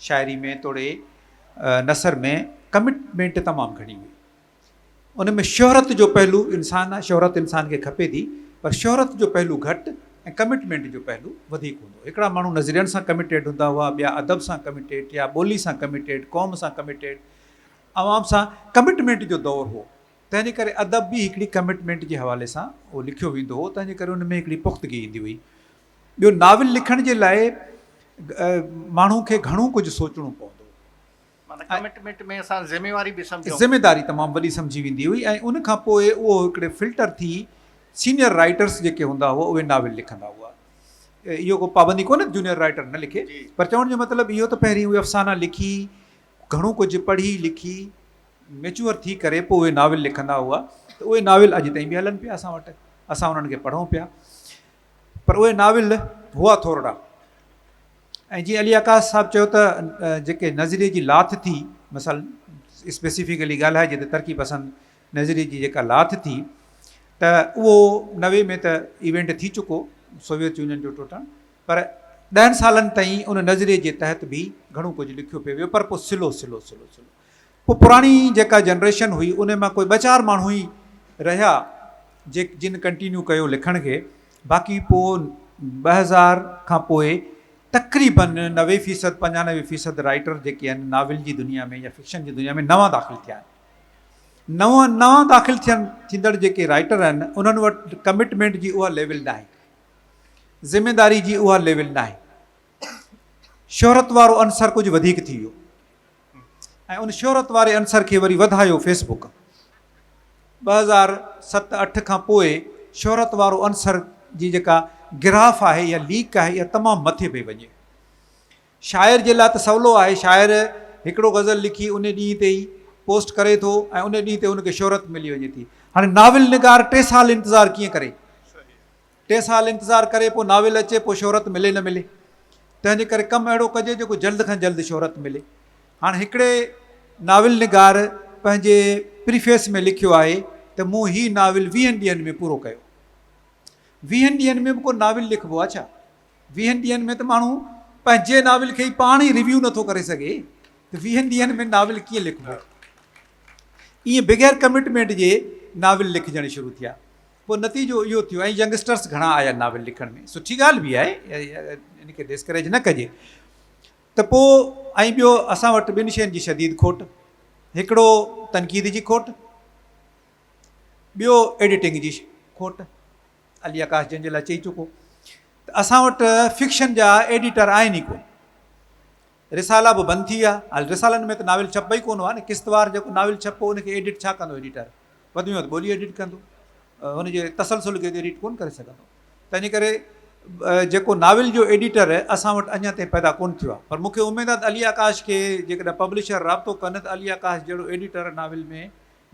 شاعري ۾ توڙي نثر ۾ ڪمٽمينٽ تمام گهڻي هئي ان ۾ شهرت جو پهلو انسان آ شهرت انسان کي کپي ٿي پر شهرت جو پهلو گهٽ ۽ ڪمٽمينٽ جو پهلو وڌيڪ هوندو هڪڙا ماڻهو نظرين سان ڪمٽيڊ هوندا هئا ٻيا ادب سان ڪمٽيڊ يا ٻولي سان ڪمٽيڊ قوم سان ڪمٽيڊ عوام سان ڪمٽمينٽ جو دور هو تنهنجي ڪري ادب به هڪڙي ڪمٽمينٽ جي حوالي سان هو لکيو ويندو هو تنهنجي ڪري ان ۾ هڪڙي پختگي ايندي هئي ٻيو ناول لکڻ جي لاء ماڻهو کي گهڻو ڪجهه سوچڻو پوندو معنيٰ ڪمٽمينٽ ۾ اسان ذميواري به سمجهون ذميداري تمام وڏي سمجهي ويندي هئي ۽ ان کان پوء اهو هڪڙي فلٽر ٿي سينئر رائيٽرس جيڪي هوندا هئا اهي ناول لکندا هئا اهو ڪو پابندي ڪونهي جونيئر رائيٽر نه لکي پر چوڻ جو مطلب اهو ته پهرين اهي افسانا لکي گهڻو ڪجهه پڙهي لکي ميچوئر ٿي ڪري پوء اهي ناول لکندا هئا ته اهي ناول اڄ تائين به هلن پيا اسان وٽ اسان انهن کي پڙهون پيا پر اهي ناول هئا ٿورڙا ۽ جيئن علي عڪاس صاحب چيو ته جيڪي نظريي جي لاٿ ٿي مثلا اسپيسيفڪلي ڳالهائجي ته ترقي پسند نظريي جي جيڪا لاٿ ٿي ته اهو نوي ۾ ته ايونٽ ٿي چڪو سوويت يونين جو ٽوٽڻ پر ڏهن سالن تائين ان نظريي جي تحت به گهڻو ڪجهه لکيو پيو ويو پر پوء سلو سلو سلو سلو پوء پراڻي جيڪا جنريشن هئي ان مان ڪوئي ٻه چار ماڻهو ئي رهيا جي جن ڪنٽينيو ڪيو لکڻ کي باقي پوء ٻه هزار کان پوء تقريبن نوي فيصد پنجانوي فيصد رائيٽر جيڪي آهن ناول جي دنيا ۾ يا فڪشن جي دنيا ۾ نوان داخل ٿيا آهن نوان نوان داخل ٿين ٿيندڙ جيڪي رائيٽر آهن انهن وٽ ڪمٽمينٽ جي اها ليول ناهي ذميداري جي اها ليول ناهي شهرت وارو عنصر ڪجهه وڌيڪ ٿي ويو ۽ ان شهرت واري عنصر کي وري وڌايو فيس بڪ ٻه هزار ست اٺ کان پوء شهرت وارو عنصر جي جيڪا گراف آهي يا ليڪ آهي اها تمام مٿي پئي وڃي شاعر جي لاء ته سولو آهي شاعر هڪڙو غزل لکي ان ڏينهن تي ئي پوسٽ ڪري ٿو ۽ ان ڏينهن تي ان کي شهرت ملي وڃي ٿي هاڻي ناول نگار ٽي سال انتظار ڪيئن ڪري ٽي سال انتظار ڪري پوء ناول اچي پوء شهرت ملي نه ملي تنهن جي ڪري ڪم اهڙو ڪجي جيڪو جلد کان جلد شهرت ملي هاڻ هڪڙي ناول نگار پنهنجي پريفيس ۾ لکيو آهي ته مون هي ناول ويهن ڏينهن ۾ پورو ڪيو ويهن ڏينهن ۾ به ڪو ناول لکبو آهي ڇا ويهن ڏينهن ۾ ته ماڻهو پنهنجي ناول کي ئي پاڻ ئي ريويو نٿو ڪري سگهي ته ويهن ڏينهن ۾ ناول ڪيئن لکبو ائين بغير ڪمٽمينٽ جي ناول لکجڻ شروع ٿيا پوء نتيجو اهو ٿيو ۽ ينگسٽرس گهڻا آيا ناول لکڻ ۾ سٺي ڳالهه به آهي ان کي ڊسڪريج نه ڪجي ته پوء ۽ ٻيو اسان وٽ ٻن شين جي شديد کوٽ هڪڙو تنقيد جي کوٽ ٻيو ايڊيٽنگ جي کوٽ علي آڪاش جنهن جي لاء چئي چڪو ته اسان وٽ فڪشن جا ايڊيٽر آهن ئي ڪو رسالا به بند ٿي ويا. هل رسالن ۾ ته ناول ڇپبا ئي ڪونه هئا نه. قسطوار جيڪو ناول ڇپبو ان کي ايڊٽ ڇا ڪندو ايڊيٽر. وڌ ۾ وڌ ٻولي ايڊٽ ڪندو. ان جي تسلسل کي ته ايڊيٽ ڪونه ڪري سگهندو. تنهنجي ڪري جيڪو ناول جو ايڊيٽر اسان وٽ اڃا تائين پيدا ڪونه ٿيو آهي. پر مون کي اميد آهي ته علي آڪاش کي جيڪڏهن پبلشر رابطو ڪن ته علي آڪاش جهڙو ايڊيٽر ناول ۾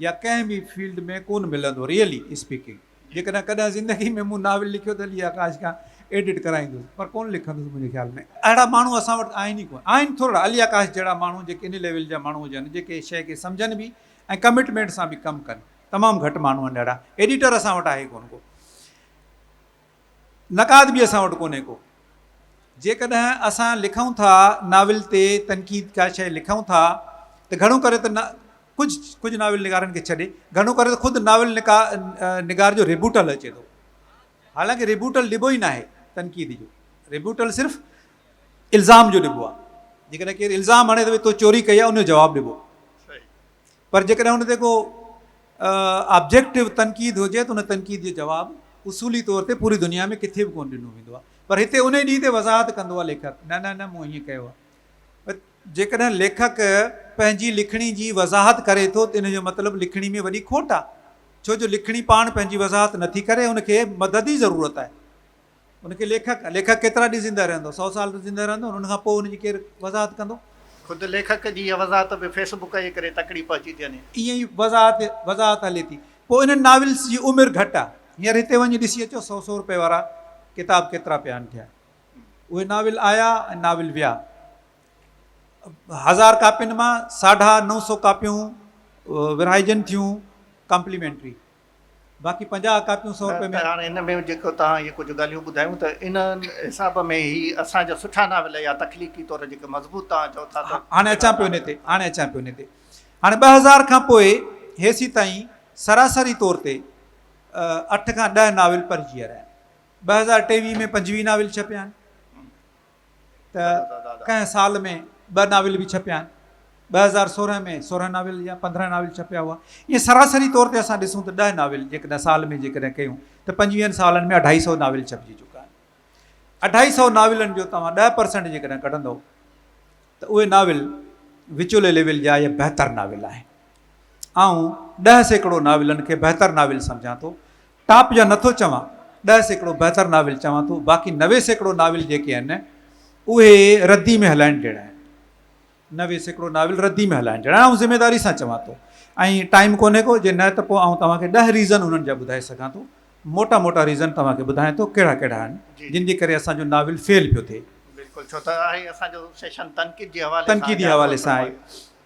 يا ڪنهن به فيلڊ ۾ ڪونه ملندو ريئلي اسپيڪنگ جيڪڏهن ڪڏهن زندگي ۾ مون ناول لکيو ته علي آڪاش کان ايڊٽ ڪرائيندس پر ڪونه لکندس منهنجي خيال ۾ اهڙا ماڻهو اسان وٽ آهن ئي ڪونه آهن ٿورڙا علي آڪاش جهڙا ماڻهو جيڪي ان ليول جا ماڻهو هجن جيڪي شيء کي سمجهن به ۽ ڪمٽمينٽ سان به ڪم ڪن تمام گهٽ ماڻهو آهن اهڙا ايڊيٽر اسان وٽ آهي ڪونه ڪو. نقاد به اسان وٽ ڪونهي ڪو. جيڪڏهن اسان لکون ٿا، ناول تي تنقيد ڪا شيء لکون ٿا ته گهڻو ڪري ته ڪجهه ڪجهه ناول نگارن کي ڇڏي گهڻو ڪري ته خود ناول نگار جو ريبوٽل اچي ٿو. حالانڪه ريبوٽل ڏبو ئي ناهي تنقيد جو. ريبوٽل صرف الزام جو ڏبو آهي. جيڪڏهن ڪير الزام هڻي ته ڀئي تو چوري ڪئي آهي ان جو جواب ڏبو. پر جيڪڏهن ان تي ڪو آبجيڪٽو تنقيد هجي ته ان تنقيد جو جواب اصولي طور تي پوري دنيا ۾ ڪٿي به ڪونه ڏنو ويندو آهي پر هتي انهي ڏينهن تي وضاحت ڪندو آهي ليکڪ نه نه نه مون هيئن ڪيو آهي جيڪڏهن ليکڪ پنهنجي لکڻي جي وضاحت ڪري ٿو ته ان جو مطلب لکڻي ۾ وڏي کوٽ آهي ڇو جو لکڻي پاڻ پنهنجي وضاحت نٿي ڪري ان کي مدد جي ضرورت آهي ان کي ليکڪ، ليکڪ ڪيترا ڏينهن زنده رهندو؟ سؤ سال ته زنده رهندو نه، ان کان پوء ان جي ڪير وضاحت ڪندو؟ خود ليکڪ جي اها وضاحت به فيس بڪ جي ڪري تڪڙي پهچي ٿي وڃي. ائين ئي وضاحت، وضاحت هلي ٿي. پوء انهن ناولس جي عمر گهٽ آ. هينئر هتي وڃي ڏسي اچو سؤ سؤ روپيه وارا ڪتاب ڪيترا پيا آهن ٺهيل. اهي ناول آيا ۽ ناول ويا. هزار ڪاپين مان ساڍا نو سؤ ڪاپيون ورهائجن ٿيون ڪامپليمينٽري. باقي پنجاهه ڪاپيون سؤ روپئي ۾. ته هاڻي هن ۾ جيڪو توهان اهي ڪجهه ڳالهيون ٻڌايون ته ان حساب ۾ هي اسان جا سٺا ناول يا تخليقي طور جيڪي مضبوط توهان چئو ٿا ته. هاڻي اچان پيو ان تي. هاڻي اچان پيو ان تي. هاڻي ٻه هزار کان پوء هيسين تائين سراسري طور تي اٺ کان ڏهه ناول پرهجي ويا رهيا آهن. ٻه هزار ٽيويهه ۾ پنجويهه ناول ڇپيا آهن. ته ڪنهن سال ۾ ٻه ناول به ڇپيا آهن. ٻه هزار سورهن ۾ سورهن ناول يا پندرهن ناول ڇپيا هئا. ائين سراسري طور تي اسان ڏسون ته ڏهه ناول جيڪڏهن سال ۾ جيڪڏهن ڪيون ته پنجويهن سالن ۾ اڍائي سئو ناول ڇپجي چڪا آهن. اڍائي سئو ناولن جو توهان ڏهه پرسنٽ جيڪڏهن ڪڍندئو ته اهي ناول وچولي ليول جا يا بهتر ناول آهن. آئون ڏهه سيڪڙو ناولن کي بهتر ناول سمجهان ٿو. ٽاپ جا نٿو چوان، ڏهه سيڪڙو بهتر ناول چوان ٿو، باقي نوي سيڪڙو ناول جيڪي آهن اهي ردي ۾ هلائڻ جهڙا آهن. نوي سيڪڙو ناول ردي ۾ هلائڻ جهڙا آهن آئون ذميداري سان چوان ٿو ۽ ٽائيم ڪونهي ڪو جي نه ته پوء آئون توهان کي ڏهه ريزن انهن جا ٻڌائي سگهان ٿو موٽا موٽا ريزن توهان کي ٻڌايان ٿو ڪهڙا ڪهڙا آهن جن جي ڪري اسان جو ناول فيل پيو ٿئي. بلڪل ڇو ته اهي اسان جو سيشن تنقيد جي حوالي سان آهي. تنقيدي حوالي سان آهي.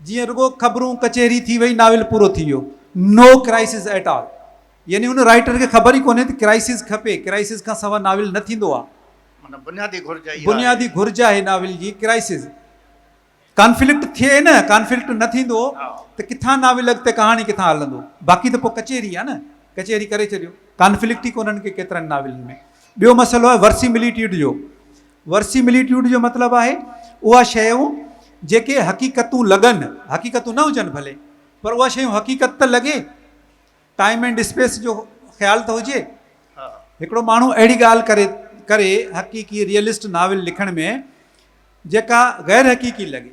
جيئن رڳو خبرون ڪچهري ٿي وئي ناول پورو ٿي ويو نو ڪرائسز ايٽ آل يعني ان رائٽر کي خبر ئي ڪونهي ته ڪرائسز کپي ڪرائسز کان سوا ناول نه ٿيندو آ معنيٰ بنيادي گهرج اها بنيادي گهرج آهي ناول جي ڪرائسز ڪانفلڪٽ ٿئي نه ڪانفلڪٽ نه ٿيندو ته ڪٿان ناول اڳتي ڪهاڻي ڪٿان هلندو باقي ته پوء ڪچهري آ نه ڪچهري ڪري ڇڏيو ڪانفلڪٽ ئي ڪونهن ڪي ڪيترن ناولن ۾ ٻيو مسئلو آهي ورسيمليٽيڊ جو ورسيمليٽيوڊ جو مطلب آهي اها شيون جيڪي حقيقتون لڳن، حقيقتون نه هجن ڀلي پر اها شيون حقيقت ته لڳي، ٽائيم اينڊ اسپيس جو خيال ته هجي. هڪڙو ماڻهو اهڙي ڳالهه ڪري ڪري حقيقي، ريئلسٽ، ناول لکڻ ۾ جيڪا غيرحقيقي لڳي.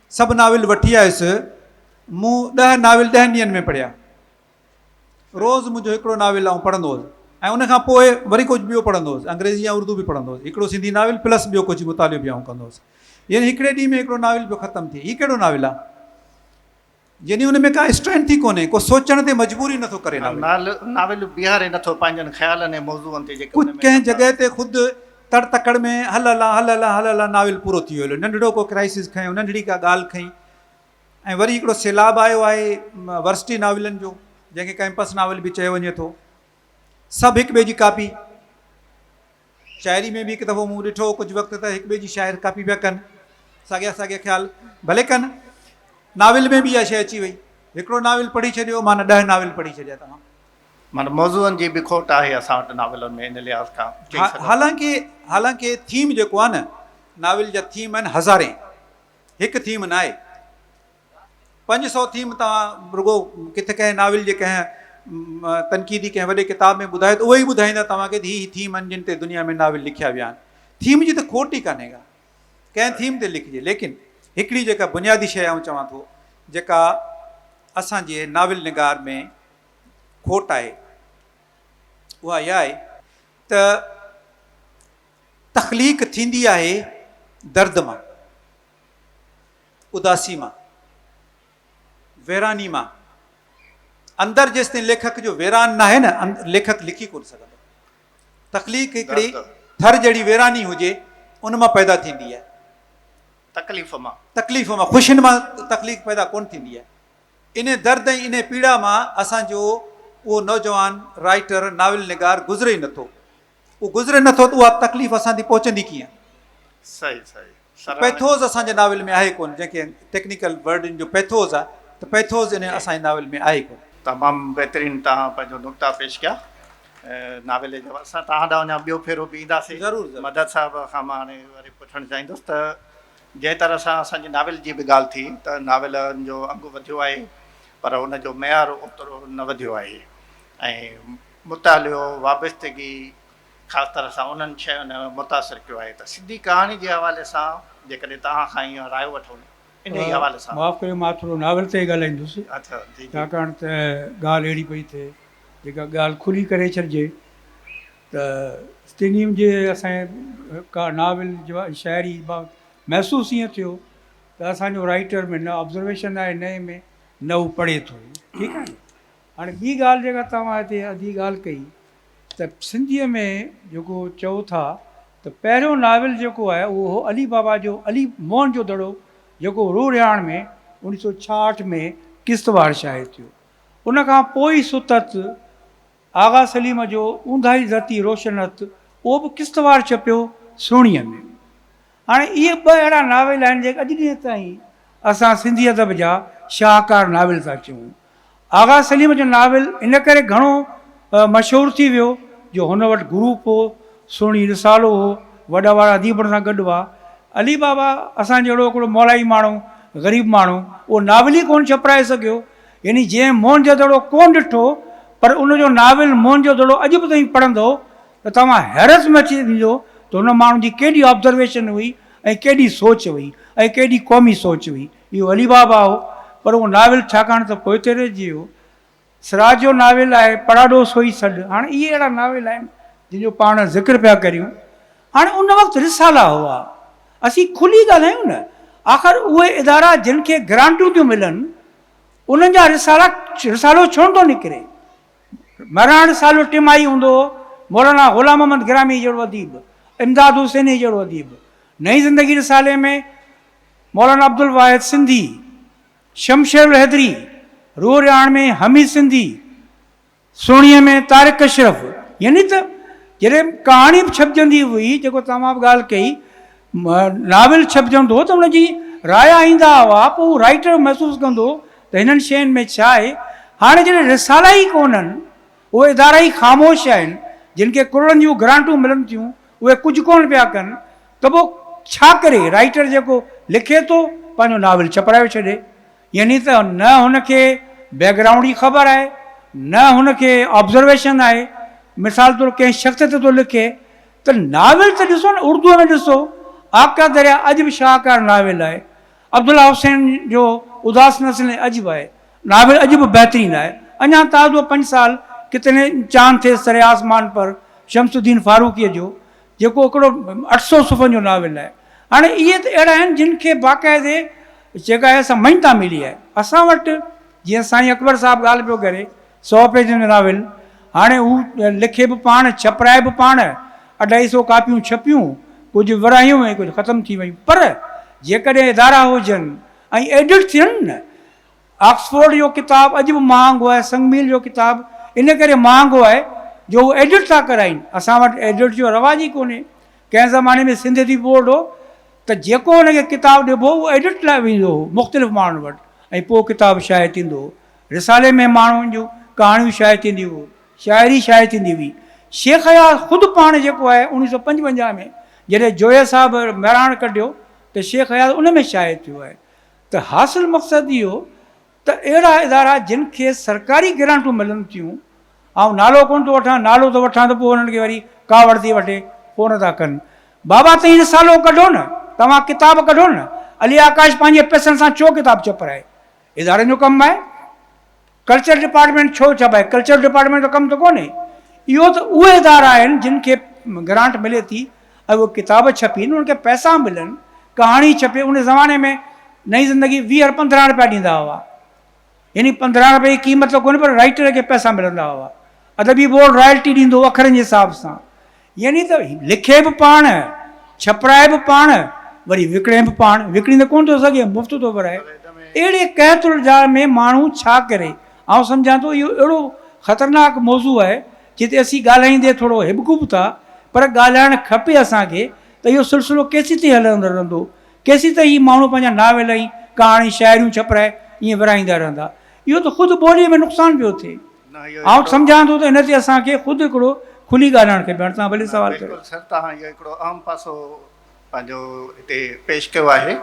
سڀ ناول وٺي آيس. مون ڏهه ناول ڏهن ڏينهن ۾ پڙهيا. روز منهنجو هڪڙو ناول آئون پڙهندو هوس ۽ ان کان پوء وري ڪجهه ٻيو پڙهندو هوس. انگريزي ۽ اردو به پڙهندو هوس. هڪڙو سنڌي ناول پلس ٻيو ڪجهه مطالعو به آئون ڪندو هوس. يعني هڪڙي ڏينهن ۾ هڪڙو ناول پيو ختم ٿئي. هي ڪهڙو ناول آ؟ يعني ان ۾ ڪا اسٽرينٿ ئي ڪونهي، ڪو سوچڻ تي مجبور ئي نٿو ڪري ناول. ناول بيهاري نٿو پنهنجن خيالن ۽ موضوعن تي جيڪي ان ۾ ڪنهن جڳهه تي خود تڙ تڪڙ ۾ هل هلان هل هلان هل هلان ناول پورو ٿي ويو هليو ننڍڙو ڪو ڪرائسز کنيو ننڍڙي ڪا ڳالهه کنئي ۽ وري هڪڙو سيلاب آيو آهي ورسٽي ناولن جو جنهن کي ڪئمپس ناول به چيو وڃي ٿو سڀ هڪ ٻئي جي ڪاپي شاعري ۾ به هڪ دفعو مون ڏٺو هو ڪجهه وقت ته هڪ ٻئي جي شاعر ڪاپي پيا ڪن ساڳيا ساڳيا خيال ڀلي ڪن ناول ۾ به اها شيء اچي وئي هڪڙو ناول پڙهي ڇڏيو معنيٰ ڏهه ناول پڙهي ڇڏيا توهان. معنيٰ موضوعن جي به کوٽ آهي اسان وٽ ناولن ۾ ان لحاظ کان چئي سگهون ٿا. حالانڪه حالانڪه ٿيم جيڪو آهي نه ناول جا ٿيم آهن هزارين هڪ ٿيم ناهي. پنج سؤ ٿيم توهان رڳو ڪٿ ڪنهن ناول جي ڪنهن تنقيدي ڪنهن وڏي ڪتاب ۾ ٻڌايو ته اهي ئي ٻڌائيندا توهان کي ته هي هي ٿيم آهن جن تي دنيا ۾ ناول لکيا ويا آهن ٿيم جي ته کوٽ ئي ڪانهي ڪا ڪنهن ٿيم تي لکجي ليڪن هڪڙي جيڪا بنيادي شيء آئون چوان ٿو جيڪا اسان جي ناول نگار ۾ کوٽ آهي اها اها آهي ته تخليق ٿيندي آهي درد مان اداسي مان ويراني مان اندر جيستائين ليکڪ جو ويران ناهي نه ليکڪ لکي ڪونه سگهندو. تخليق هڪڙي ٿر جهڙي ويراني هجي ان مان پيدا ٿيندي آهي. تڪليف مان. تڪليف مان خوشين مان تخليق پيدا ڪونه ٿيندي آهي. انهي درد ۽ انهي پيڙا مان اسان جو اهو نوجوان رائيٽر ناول نگار گذري ئي نٿو. اهو گذري نه ٿو ته اها تڪليف اسان تي پهچندي ڪيئن؟ صحيح صحيح سراهڻي. پيٿوز اسان جي ناول ۾ آهي ڪونه جنهن کي ٽيڪنيڪل ورڊ ان جو پيٿوز آهي ته پيٿوز ان اسان جي ناول ۾ آهي ڪونه. تمام بهترين توهان پنهنجو نقطا پيش ڪيا ناول جا اسان توهان ڏانهن اڃا ٻيو ڦيرو به اينداسين ضرور ضرور. مدد صاحب کان مان هاڻي وري پڇڻ چاهيندس ته جنهن طرح سان اسان جي ناول جي به ڳالهه ٿي ته ناولن جو انگ وڌيو آهي پر ان جو معيار اوترو نه وڌيو آهي ۽ مطالعو، وابستگي، خاص طرح سان انهن شين متاثر ڪيو آهي ته سنڌي ڪهاڻي جي حوالي سان جيڪڏهن توهان کان اها راء وٺون انهي حوالي سان. معاف ڪريو مان ٿورو ناول تي ئي ڳالهائيندس ڇاڪاڻ ته ڳالهه اهڙي پئي ٿئي جيڪا ڳالهه کلي ڪري ڇڏجي ته ستينيم جي اسان جي ناول شاعري محسوس ائين ٿيو ته اسان جو رائيٽر ۾ نه آبزرويشن آهي نه اين ۾ نه هو پڙهي ٿو ٺيڪ آهي هاڻي ٻي ڳالهه جيڪا توهان هتي ادي ڳالهه ڪئي ته سنڌيء ۾ جيڪو چئو ٿا ته پهريون ناول جيڪو آهي اهو هو علي بابا جو علي موهن جو دڙو جيڪو رورهياڻ ۾ اوڻيهه سؤ ڇاهٺ ۾ قسطوار شايع ٿيو ان کان پوء ئي ستت آغا سليم جو اونداهي ڌرتي روشن هٿ اهو به قسطوار ڇپيو سهڻيء ۾. هاڻي اهي ٻه اهڙا ناول آهن جيڪي اڄ ڏينهن تائين اسان سنڌي ادب جا شاهڪار ناول ٿا چئون. آغا سليم جو ناول ان ڪري گهڻو مشهور ٿي ويو جو هن وٽ گروپ هو، سهڻي رسالو هو، وڏا وڏا اديب هن سان گڏ هئا. علي بابا اسان جهڙو هڪڙو مولائي ماڻهو، غريب ماڻهو، اهو ناول ئي ڪونه ڇپرائي سگهيو. يعني جنهن موهن جودڙو ڪونه ڏٺو پر ان جو ناول موهن جودڙو اڄ به تائين پڙهندو ته توهان حيرت ۾ اچي ويندو ته هن ماڻهو جي ڪيڏي آبزرويشن هئي ۽ ڪيڏي سوچ هئي ۽ ڪيڏي قومي سوچ هئي. اهو علي بابا هو پر اهو ناول ڇاڪاڻ ته پوئتي رهجي ويو. سراج جو ناول آهي پڙاڏو سوئي سڏ هاڻ اهي اهڙا ناول آهن جن جو پاڻ ذڪر پيا ڪريون هاڻ ان وقت رسالا هئا اسين کلي ڳالهايون نه آخر اهي ادارا جن کي گرانٽون ٿيون ملن انهن جا رسالا رسالو ڇونه ٿو نڪري مهراڻ سالو ٽيمائي هوندو هو، مولانا غلام محمد گرامي جهڙو اديب، امداد حسيني جهڙو اديب، نئين زندگي رسالي ۾ مولانا عبدالواحد سنڌي، شمشير الحيدري، روح رهاڻ ۾ حميد سنڌي، سهڻيء ۾ طارق اشرف يعني ته جڏهن ڪهاڻي به ڇپجندي هئي جيڪو توهان به ڳالهه ڪئي ناول ڇپجڻ ٿو ته ان جي رايا ايندا هئا پوء هو رائيٽر محسوس ڪندو ته هنن شين ۾ ڇا آهي. هاڻي جڏهن رسالا ئي ڪونهن، اهي ادارا ئي خاموش آهن، جن کي ڪروڙن جون گرانٽون ملن ٿيون، اهي ڪجهه ڪونه پيا ڪن ته پوء ڇا ڪري رائيٽر جيڪو لکي ٿو پنهنجو ناول ڇپرايو ڇڏي. يعني ته نه هن کي بيڪ گرائونڊ جي خبر آهي نه هن کي آبزرويشن آهي. مثال طور ڪنهن شخص تي ٿو لکي ته ناول ته ڏسو نه اردوء ۾ ڏسو آقا دريا اڄ به شاهڪار ناول آهي عبدالله حسين جو اداس نسلين عجب آهي ناول اڄ به بهترين آهي اڃان تازو پنج سال ڪتني چاند ٿي سري آسمان پر شمس الدين فاروقيء جو جيڪو هڪڙو اٺ سؤ صفحن جو ناول آهي هاڻي اهي ته اهڙا آهن جن کي باقاعدي جيڪا آهي سا مڃتا ملي آهي اسان وٽ جيئن سائين اڪبر صاحب ڳالهه پيو ڪري سؤ پيجن جو ناول. هاڻي هو لکي به پاڻ، ڇپرائي به پاڻ. اڍائي سؤ ڪاپيون ڇپيون، ڪجهه ورهايون ۽ ڪجهه ختم ٿي ويون. پر جيڪڏهن ادارا هجن ۽ ايڊٽ ٿين نه. آڪسفورڊ جو ڪتاب اڄ به مهانگو آهي، سنگ ميل جو ڪتاب ان ڪري مهانگو آهي جو هو ايڊٽ ٿا ڪرائين. اسان وٽ ايڊٽ جو رواج ئي ڪونهي. ڪنهن زماني ۾ سنڌ ادبي بورڊ هو ته جيڪو ان کي ڪتاب ڏبو هو ايڊٽ لاء ويندو هو مختلف ماڻهن وٽ ۽ پوء ڪتاب شايع ٿيندو هو. رسالي ۾ ماڻهن جون ڪهاڻيون شايع ٿينديون هيون، شاعري شايع ٿيندي هئي. شيخ اياز خود پاڻ جيڪو آهي اڻويهه سؤ پنجونجاهه ۾ جڏهن جويه صاحب مهراڻ ڪڍيو ته شيخ اياز ان ۾ شايع ٿيو آهي ته حاصل مقصد اهو ته اهڙا ادارا جن کي سرڪاري گرانٽون ملن ٿيون، آئون نالو ڪونه ٿو وٺان، نالو ٿو وٺان ته پوء انهن کي وري ڪاوڙ ٿي وٺي، ڪونه ٿا ڪن. بابا توهين رسالو ڪڍو نه، توهان ڪتاب ڪڍو نه، علي آڪاش پنهنجي پئسن سان ڇو ڪتاب ڇپرائي؟ ادارن جو ڪم آهي ڪلچر ڊپارٽمينٽ ڇو چئبو آهي ڪلچر ڊپارٽمينٽ جو ڪم ته ڪونهي اهو ته اهي ادارا آهن جن کي گرانٽ ملي ٿي ۽ اهي ڪتاب ڇپين انهن کي پئسا ملن ڪهاڻي ڇپي ان زماني ۾ نئين زندگي ويهه پندرهن رپيا ڏيندا هئا يعني پندرهن رپيا جي قيمت ته ڪونهي پر رائٽر کي پئسا ملندا هئا ادبي بورڊ رائلٽي ڏيندو اکرن جي حساب سان يعني ته لکي به پاڻ، ڇپرائي به پاڻ، وري وڪڻي به پاڻ، وڪڻي ته ڪونه ٿو سگهي، مفت ٿو ورائي. اهڙي قحط الجار ۾ ماڻهو ڇا ڪري؟ آئون سمجهان ٿو اهو اهڙو خطرناڪ موضوع آهي، جنهن تي اسين ڳالهائيندي ٿورو هٻڪون به ٿا، پر ڳالهائڻ کپي اسان کي ته اهو سلسلو ڪيسيتائين هلندو رهندو؟ ڪيسيتائين هي ماڻهو پنهنجا ناول ۽ ڪهاڻي، شاعريون ڇپرائي ائين ورائيندا رهندا؟ اهو ته خود ٻوليء ۾ نقصان پيو ٿئي. آئون سمجهان ٿو ته ان تي اسان کي خود هڪڙو کلي ڳالهائڻ کپي. هاڻي توهان ڀلي سوال ڪريو. بلڪل سر توهان اهو هڪڙو اهم پاسو پنهنجو هتي پيش ڪيو آهي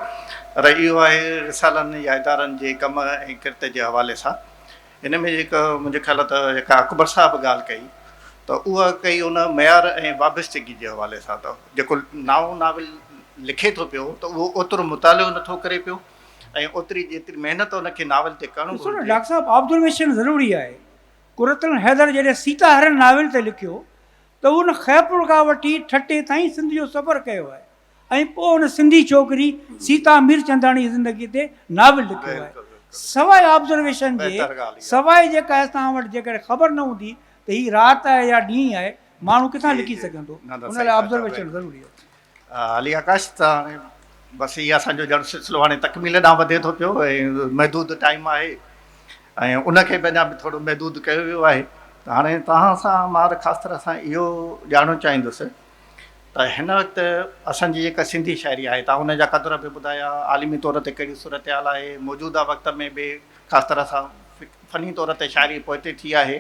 پر اهو آهي رسالن يا ادارن جي ڪم ۽ ڪرت جي حوالي سان ان ۾ جيڪا منهنجي خيال ته جيڪا اڪبر صاحب ڳالهه ڪئي ته اها ڪئي ان معيار ۽ وابستگي جي حوالي سان ته جيڪو نائون ناول لکي ٿو پيو ته اهو اوترو مطالعو نٿو ڪري پيو ۽ اوتري جيتري محنت ان کي ناول تي ڪرڻ گهرجي. ڏسو نه ڊاڪٽر صاحب آبزرويشن ضروري آهي. قرة العين حيدر جڏهن سيتا هرڻ ناول تي لکيو ته هن خيرپور کان وٺي ٺٽي تائين سنڌ جو سفر ڪيو آهي ۽ پوء ان سنڌي ڇوڪري سيتا ميرچنداڻي جي زندگي تي ناول لکيو آهي. سواء آبزرويشن جي سواء جيڪا آهي توهان وٽ جيڪڏهن خبر نه هوندي ته هي رات آهي يا ڏينهن آهي ماڻهو ڪٿان لکي سگهندو. ان لاء آبزرويشن ضروري آهي. علي آڪاش ته هاڻي بس هي اسان جو ڄڻ سلسلو هاڻي تڪميل ڏانهن وڌي ٿو پيو ۽ محدود ٽائيم آهي ۽ ان کي به اڃا به ٿورو محدود ڪيو ويو آهي ته هاڻي توهان سان مان ته خاص طرح سان اهو ڄاڻڻ چاهيندس ته هن وقت اسان جي جيڪا سنڌي شاعري آهي توهان ان جا قدر به ٻڌايا عالمي طور تي ڪهڙي صورتحال آهي موجوده وقت ۾ به خاص طرح سان فني طور تي شاعري پوئتي ٿي آهي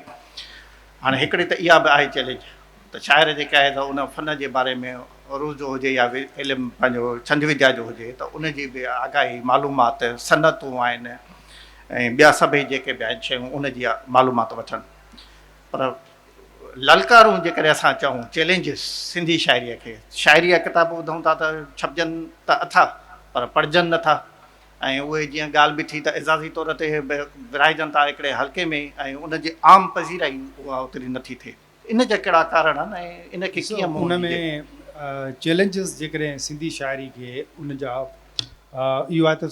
هاڻي هڪڙي ته اها به آهي چئلينج ته شاعر جيڪا آهي سا ان فن جي باري ۾ عروض جو هجي يا علم پنهنجو ڇند وديا جو هجي ته ان جي به آگاهي معلومات صنعتون آهن ۽ ٻيا سڀئي جيڪي به آهن شيون ان جي معلومات وٺن پر للڪارون جيڪڏهن اسان چئون چئلينجز سنڌي شاعريء کي شاعري جا ڪتاب ٻڌون ٿا ته ڇپجن ته اٿا پر پڙهجن نه ٿا ۽ اهي جيئن ڳالهه به ٿي ته اعزازي طور تي ورهائجن ٿا هڪڙي حلقي ۾ ۽ ان جي عام پذيرائي اها اوتري نه ٿي ٿئي. ان جا ڪهڙا ڪارڻ آهن ۽ ان کي ڪيئن منهن ڏيجي؟ ان ۾ چئلينجز جيڪڏهن سنڌي شاعري کي ان جا اهو آهي ته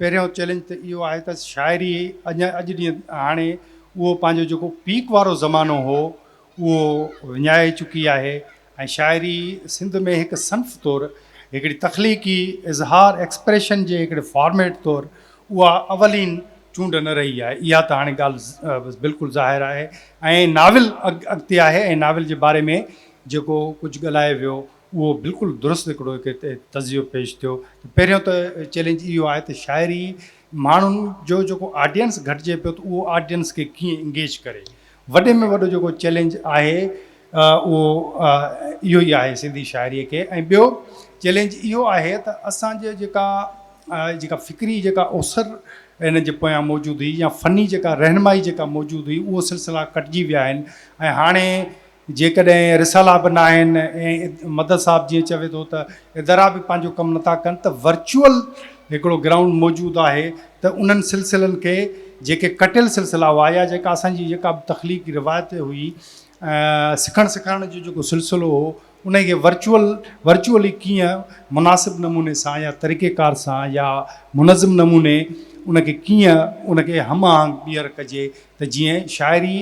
پهريون چئلينج ته اهو آهي ته شاعري اڃا اڄ ڏينهن هاڻي اهو پنهنجو جيڪو پيڪ وارو زمانو هو اهو وڃائي چڪي آهي ۽ شاعري سنڌ ۾ هڪ صنف طور هڪڙي تخليقي اظهار ايڪسپريشن جي هڪڙي فارميٽ طور اها اولين چونڊ نه رهي آهي. اها ته هاڻي ڳالهه بلڪل ظاهر آهي ۽ ناول اڳتي آهي ۽ ناول جي باري ۾ جيڪو ڪجهه ڳالهايو ويو اهو بلڪل درست هڪڙو هڪ هتي تجزيو پيش ٿيو ته پهريون ته چئلينج اهو آهي ته شاعري ماڻهن جو جيڪو آڊينس گهٽجي پيو ته اهو آڊينس کي ڪيئن انگيج ڪري وڏي ۾ وڏو جيڪو چئلينج آهي اهو اهو ئي آهي سنڌي شاعريء کي ۽ ٻيو چئلينج اهو آهي ته اسان جي جيڪا جيڪا فڪري جيڪا اوسر هن جي پويان موجود هئي يا فني جيڪا رهنمائي جيڪا موجود هئي اهو سلسلا ڪٽجي ويا آهن ۽ هاڻي جيڪڏهن رسالا به نه آهن ۽ مدد صاحب جيئن چوي ٿو ته ادارا به پنهنجو ڪم نٿا ڪن ته ورچوئل هڪڙو گرائونڊ موجود آهي ته انهن سلسلن کي جيڪي ڪٽيل سلسلا هئا يا جيڪا اسان جي جيڪا به تخليقي روايت هئي سکڻ سيکارڻ جو جيڪو سلسلو هو انهي کي ورچوئل Virtually ڪيئن مناسب نموني سان يا طريقي ڪار سان يا منظم نموني ان کي ڪيئن ان کي هم آهنگ ٻيهر ڪجي ته جيئن شاعري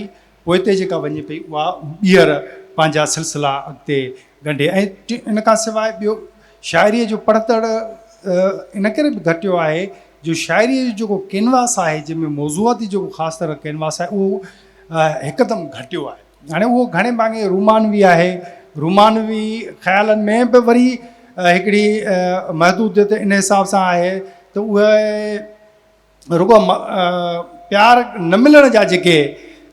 پوئتي جيڪا وڃي پئي اها ٻيهر پنهنجا سلسلا اڳتي ڳنڍي ۽ ان کان سواء ٻيو شاعري جو پڙهتڙ ان ڪري به گهٽيو آهي جو شاعريء جو جيڪو ڪينواس آهي، جنهن ۾ موضوعاتي جيڪو خاص طرح ڪينواس آهي، اهو هڪدم گهٽيو آهي. هاڻي اهو گهڻي ڀاڱي رومانوي آهي. رومانوي خيالن ۾ به وري هڪڙي محدوديت ان حساب سان آهي ته اهي رڳو پيار نه ملڻ جا جيڪي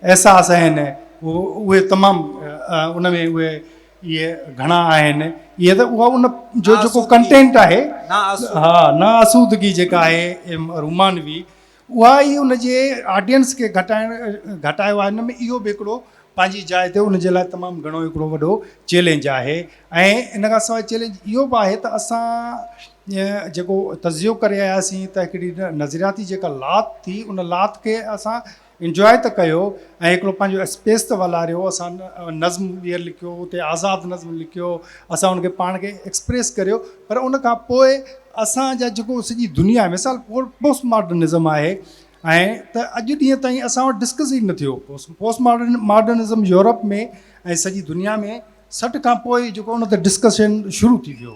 احساس آهن، اهي تمام ان ۾ اهي اهي گهڻا آهن اهي ته اها ان جو جيڪو ڪنٽينٽ آهي ها نا آسودگي جيڪا آهي رومانوي اها ئي ان جي آڊينس کي گهٽائڻ گهٽايو آهي ان ۾ اهو به هڪڙو پنهنجي جاء تي ان جي لاء تمام گهڻو هڪڙو وڏو چئلينج آهي ۽ ان کان سواء چئلينج اهو به آهي ته اسان جيڪو تجزيو ڪري آياسين ته هڪڙي نظرياتي جيڪا لات ٿي ان لات کي اسان انجواء ته ڪيو ۽ هڪڙو پنهنجو اسپيس ته والاريو اسان نظم ٻيهر لکيو اتي آزاد نظم لکيو اسان ان کي پاڻ کي ايڪسپريس ڪريو پر ان کان پوء اسان جا جيڪو سڄي دنيا ۾ مثال پوسٽ ماڊرنزم آهي ۽ ته اڄ ڏينهن تائين اسان وٽ ڊسڪس ئي نه ٿيو پوسٽ ماڊرن ماڊرنزم يورپ ۾ ۽ سڄي دنيا ۾ سٺ کان پوء جيڪو ان تي ڊسڪشن شروع ٿي ويو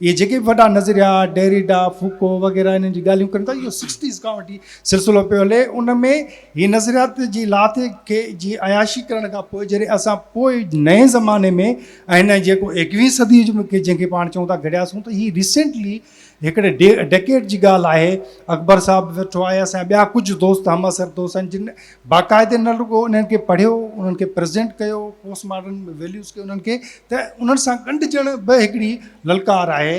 اهي جيڪي به وڏا نظريا ڊيريڊا فوڪو وغيره انهن جي ڳالهيون ڪن ٿا اهو سڪسٽيز کان وٺي سلسلو پيو هلي ان ۾ هي نظريات جي لاٿي کي جي عياشي ڪرڻ کان پوء جڏهن اسان پوء نئين زماني ۾ ۽ هن جيڪو ايڪويهه صدي جو کي جنهن کي پاڻ چئون ٿا گهڙياسون ته هي ريسينٽلي هڪڙي ڊيڪيڊ جي ڳالهه آهي اڪبر صاحب ويٺو آهي اسان جا ٻيا ڪجهه دوست همعصر دوست آهن جن باقاعدي نه رڳو انهن کي پڙهيو، انهن کي پريزينٽ ڪيو، پوسٽ ماڊرن ويليوز کي انهن کي ته انهن سان ڳنڍجڻ به هڪڙي للڪار آهي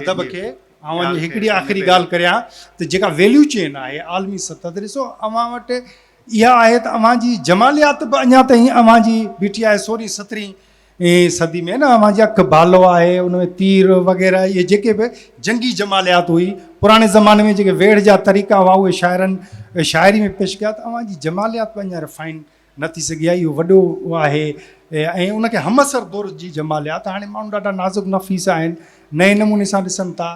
ادب کي. آئون اڃا هڪڙي آخري ڳالهه ڪريان ته جيڪا ويليو چين آهي عالمي سطح تي ڏسو اوهان وٽ اها آهي ته اوهان جي جماليات به اڃا تائين اوهان جي بيٺي آهي سورهين سترهين اين صدي ۾ نه اوهان جي اک ڀالو آهي ان ۾ تير وغيره اهي جيڪي به جنگي جماليات هئي پراڻي زماني ۾ جيڪي ويڙهه جا طريقا هئا اهي شاعرن شاعري ۾ پيش ڪيا ته اوهان جي جماليات به اڃا رفائن نه ٿي سگهي آهي اهو وڏو آهي ۽ ان کي همعصر دور جي جماليات هاڻي ماڻهو ڏاڍا نازڪ نفيس آهن نئين نموني سان ڏسن ٿا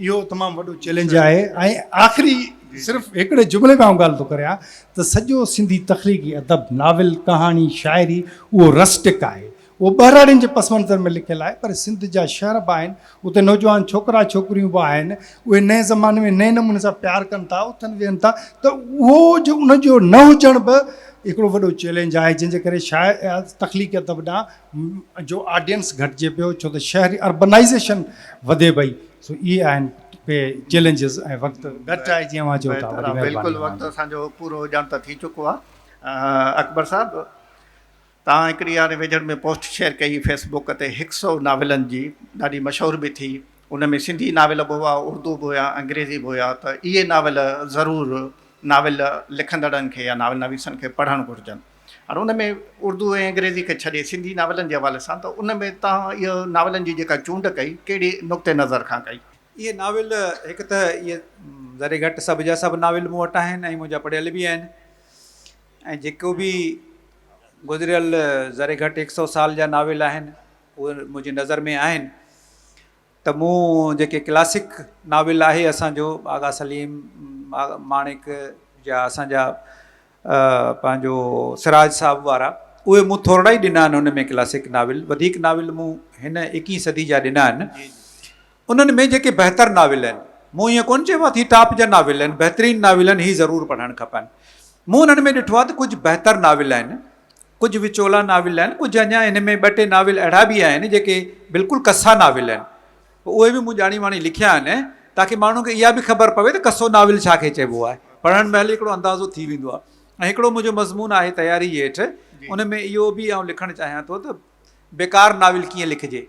اهو تمام وڏو چئلينج آهي ۽ آخري صرف هڪڙي جملي ۾ آئون ڳالهه ٿو ڪريان ته سڄو سنڌي تخليقي ادب، ناول، ڪهاڻي، شاعري، اهو رسٽڪ آهي. اهو ٻهراڙين جي پس منظر ۾ لکيل آهي پر سنڌ جا شهر به آهن، اتي نوجوان ڇوڪرا ڇوڪريون به آهن، اهي نئين زماني ۾ نئين نموني سان پيار ڪن ٿا، اٿن ويهن ٿا ته اهو جو ان جو نه هجڻ به هڪڙو وڏو چئلينج آهي جنهن جي ڪري شاعر تخليقي ادب ڏانهن جو آڊينس گهٽجي پيو ڇو ته شهري اربنائيزيشن وڌي پئي سو اهي آهن ڪي چيلنجز ۽ وقت گهٽ آهي جيئن اوهان چئو ٿا بلڪل وقت اسان جو پورو ڄڻ ته ٿي چڪو آهي اڪبر صاحب تان هڪڙي هاڻي ويجهڙ ۾ پوسٽ شيئر ڪئي فيس بوڪ تي هڪ سو ناولن جي ڏاڍي مشهور به ٿي ان ۾ سنڌي ناول به هئا اردو به هيا انگريزي به هيا ته اهي ناول ضرور ناول لکندڙن کي يا ناول نويسن کي پڙهڻ گهرجن هاڻي ان ۾ اردو ۽ انگريزي کي ڇڏي سنڌي ناولن جي حوالي سان ته ان ۾ توهان اهو ناولن جي جيڪا چونڊ ڪئي ڪهڙي نقطي نظر کان ڪئي؟ اهي ناول هڪ ته اهي ذري گهٽ سڀ جا سڀ ناول مون وٽ آهن ۽ منهنجا پڙهيل به آهن ۽ جيڪو به گذريل ذري گهٽ هڪ سئو سال جا ناول آهن اهي منهنجي نظر ۾ آهن ته مون جيڪي ڪلاسڪ ناول آهي اسان جو آغا سليم ماڻڪ جا اسان جا پنهنجو سراج صاحب وارا اهي مون ٿورڙا ئي ڏنا آهن ان ۾ ڪلاسڪ ناول وڌيڪ ناول مون هن ايڪيهين صدي جا ڏنا آهن انهن ۾ جيڪي بهتر ناول آهن مون ائين ڪون چيو اٿي ٽاپ جا ناول آهن بهترين ناول آهن هي ضرور پڙهڻ کپن مون انهن ۾ ڏٺو آهي ته ڪجهه بهتر ناول آهن ڪجهه وچولا ناول آهن ڪجهه اڃا هن ۾ ٻه ٽي ناول اهڙا به آهن جيڪي بلڪل ڪسا ناول آهن اهي به مون ڄاڻي واڻي لکيا آهن تاڪي ماڻهن کي اها به خبر پوي ته ڪسو ناول ڇا کي چئبو آهي پڙهڻ مهل هڪڙو اندازو ٿي ويندو آهي ۽ هڪڙو منهنجو مضمون آهي تياري جي هيٺ ان ۾ اهو به آئون لکڻ چاهيان ٿو ته بيڪار ناول ڪيئن لکجي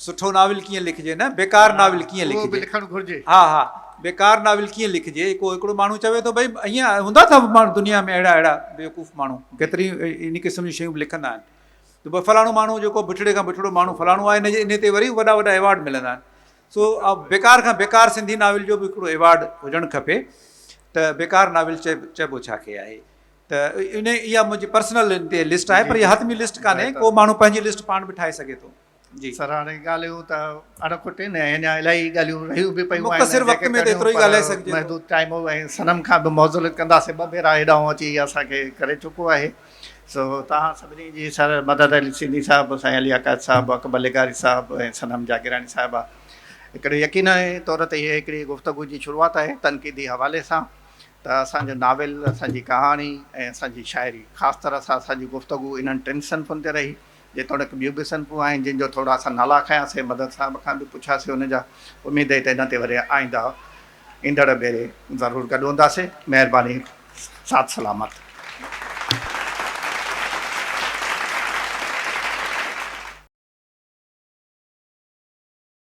سٺو ناول ڪيئن لکجي نه بيڪار ناول ڪيئن لکجي اهو به لکڻ گهرجي. ها ها بيڪار ناول ڪيئن لکجي ڪو هڪڙو ماڻهو چوي ٿو ڀئي ائين هوندا ٿا ماڻهو دنيا ۾ اهڙا اهڙا بيوقوف ماڻهو ڪيتري ان قسم جون شيون به لکندا آهن ته ڀئي فلاڻو ماڻهو جيڪو بٺڙي کان بٺڙو ماڻهو فلاڻو آهي ان جي ان تي وري وڏا وڏا ايوارڊ ملندا آهن سو بيڪار کان بيڪار سنڌي ناول جو به هڪڙو ايوارڊ هجڻ کپي ته بيڪار ناول چئي چئبو ڇا کي آهي ته ان اها منهنجي پرسنل ان تي لسٽ آهي پر اها حتمي لسٽ ڪانهي ڪو ماڻهو پنهنجي لسٽ پاڻ به ٺاهي سگهي ٿو جي سر هاڻي ڳالهيون ته اڻ کٽين ۽ اڃا الائي ڳالهيون رهيون به پيون آهن ۽ جيڪي ڪريون پر محدود ٽائيم هو ۽ صنم کان به معذرت ڪنداسين ٻه ڀيرا هيڏانهون اچي اسان کي ڪري چڪو آهي سو توهان سڀني جي سر مدد علي سنڌي صاحب سائين علي عقائد صاحب اڪبر لغاري صاحب ۽ صنم جاگيراڻي صاحبه هڪڙي يقيني طور تي هيء هڪڙي گفتگو جي شروعات آهي تنقيدي حوالي سان ته اسان جو ناول اسان جي ڪهاڻي ۽ اسان جي شاعري خاص طرح سان اسان جي گفتگو انهن ٽن صنفن تي رهي جيتوڻيڪ ٻيون به صنفون آهن جن جو ٿورا اسان نالا کنيا سي مدد صاحب کان به پڇيا سي ان جا اميد هي ته انهن تي وري آئنده ايندڙ ڀيري ضرور گڏ هوندا سي مهرباني ساٿ سلامت.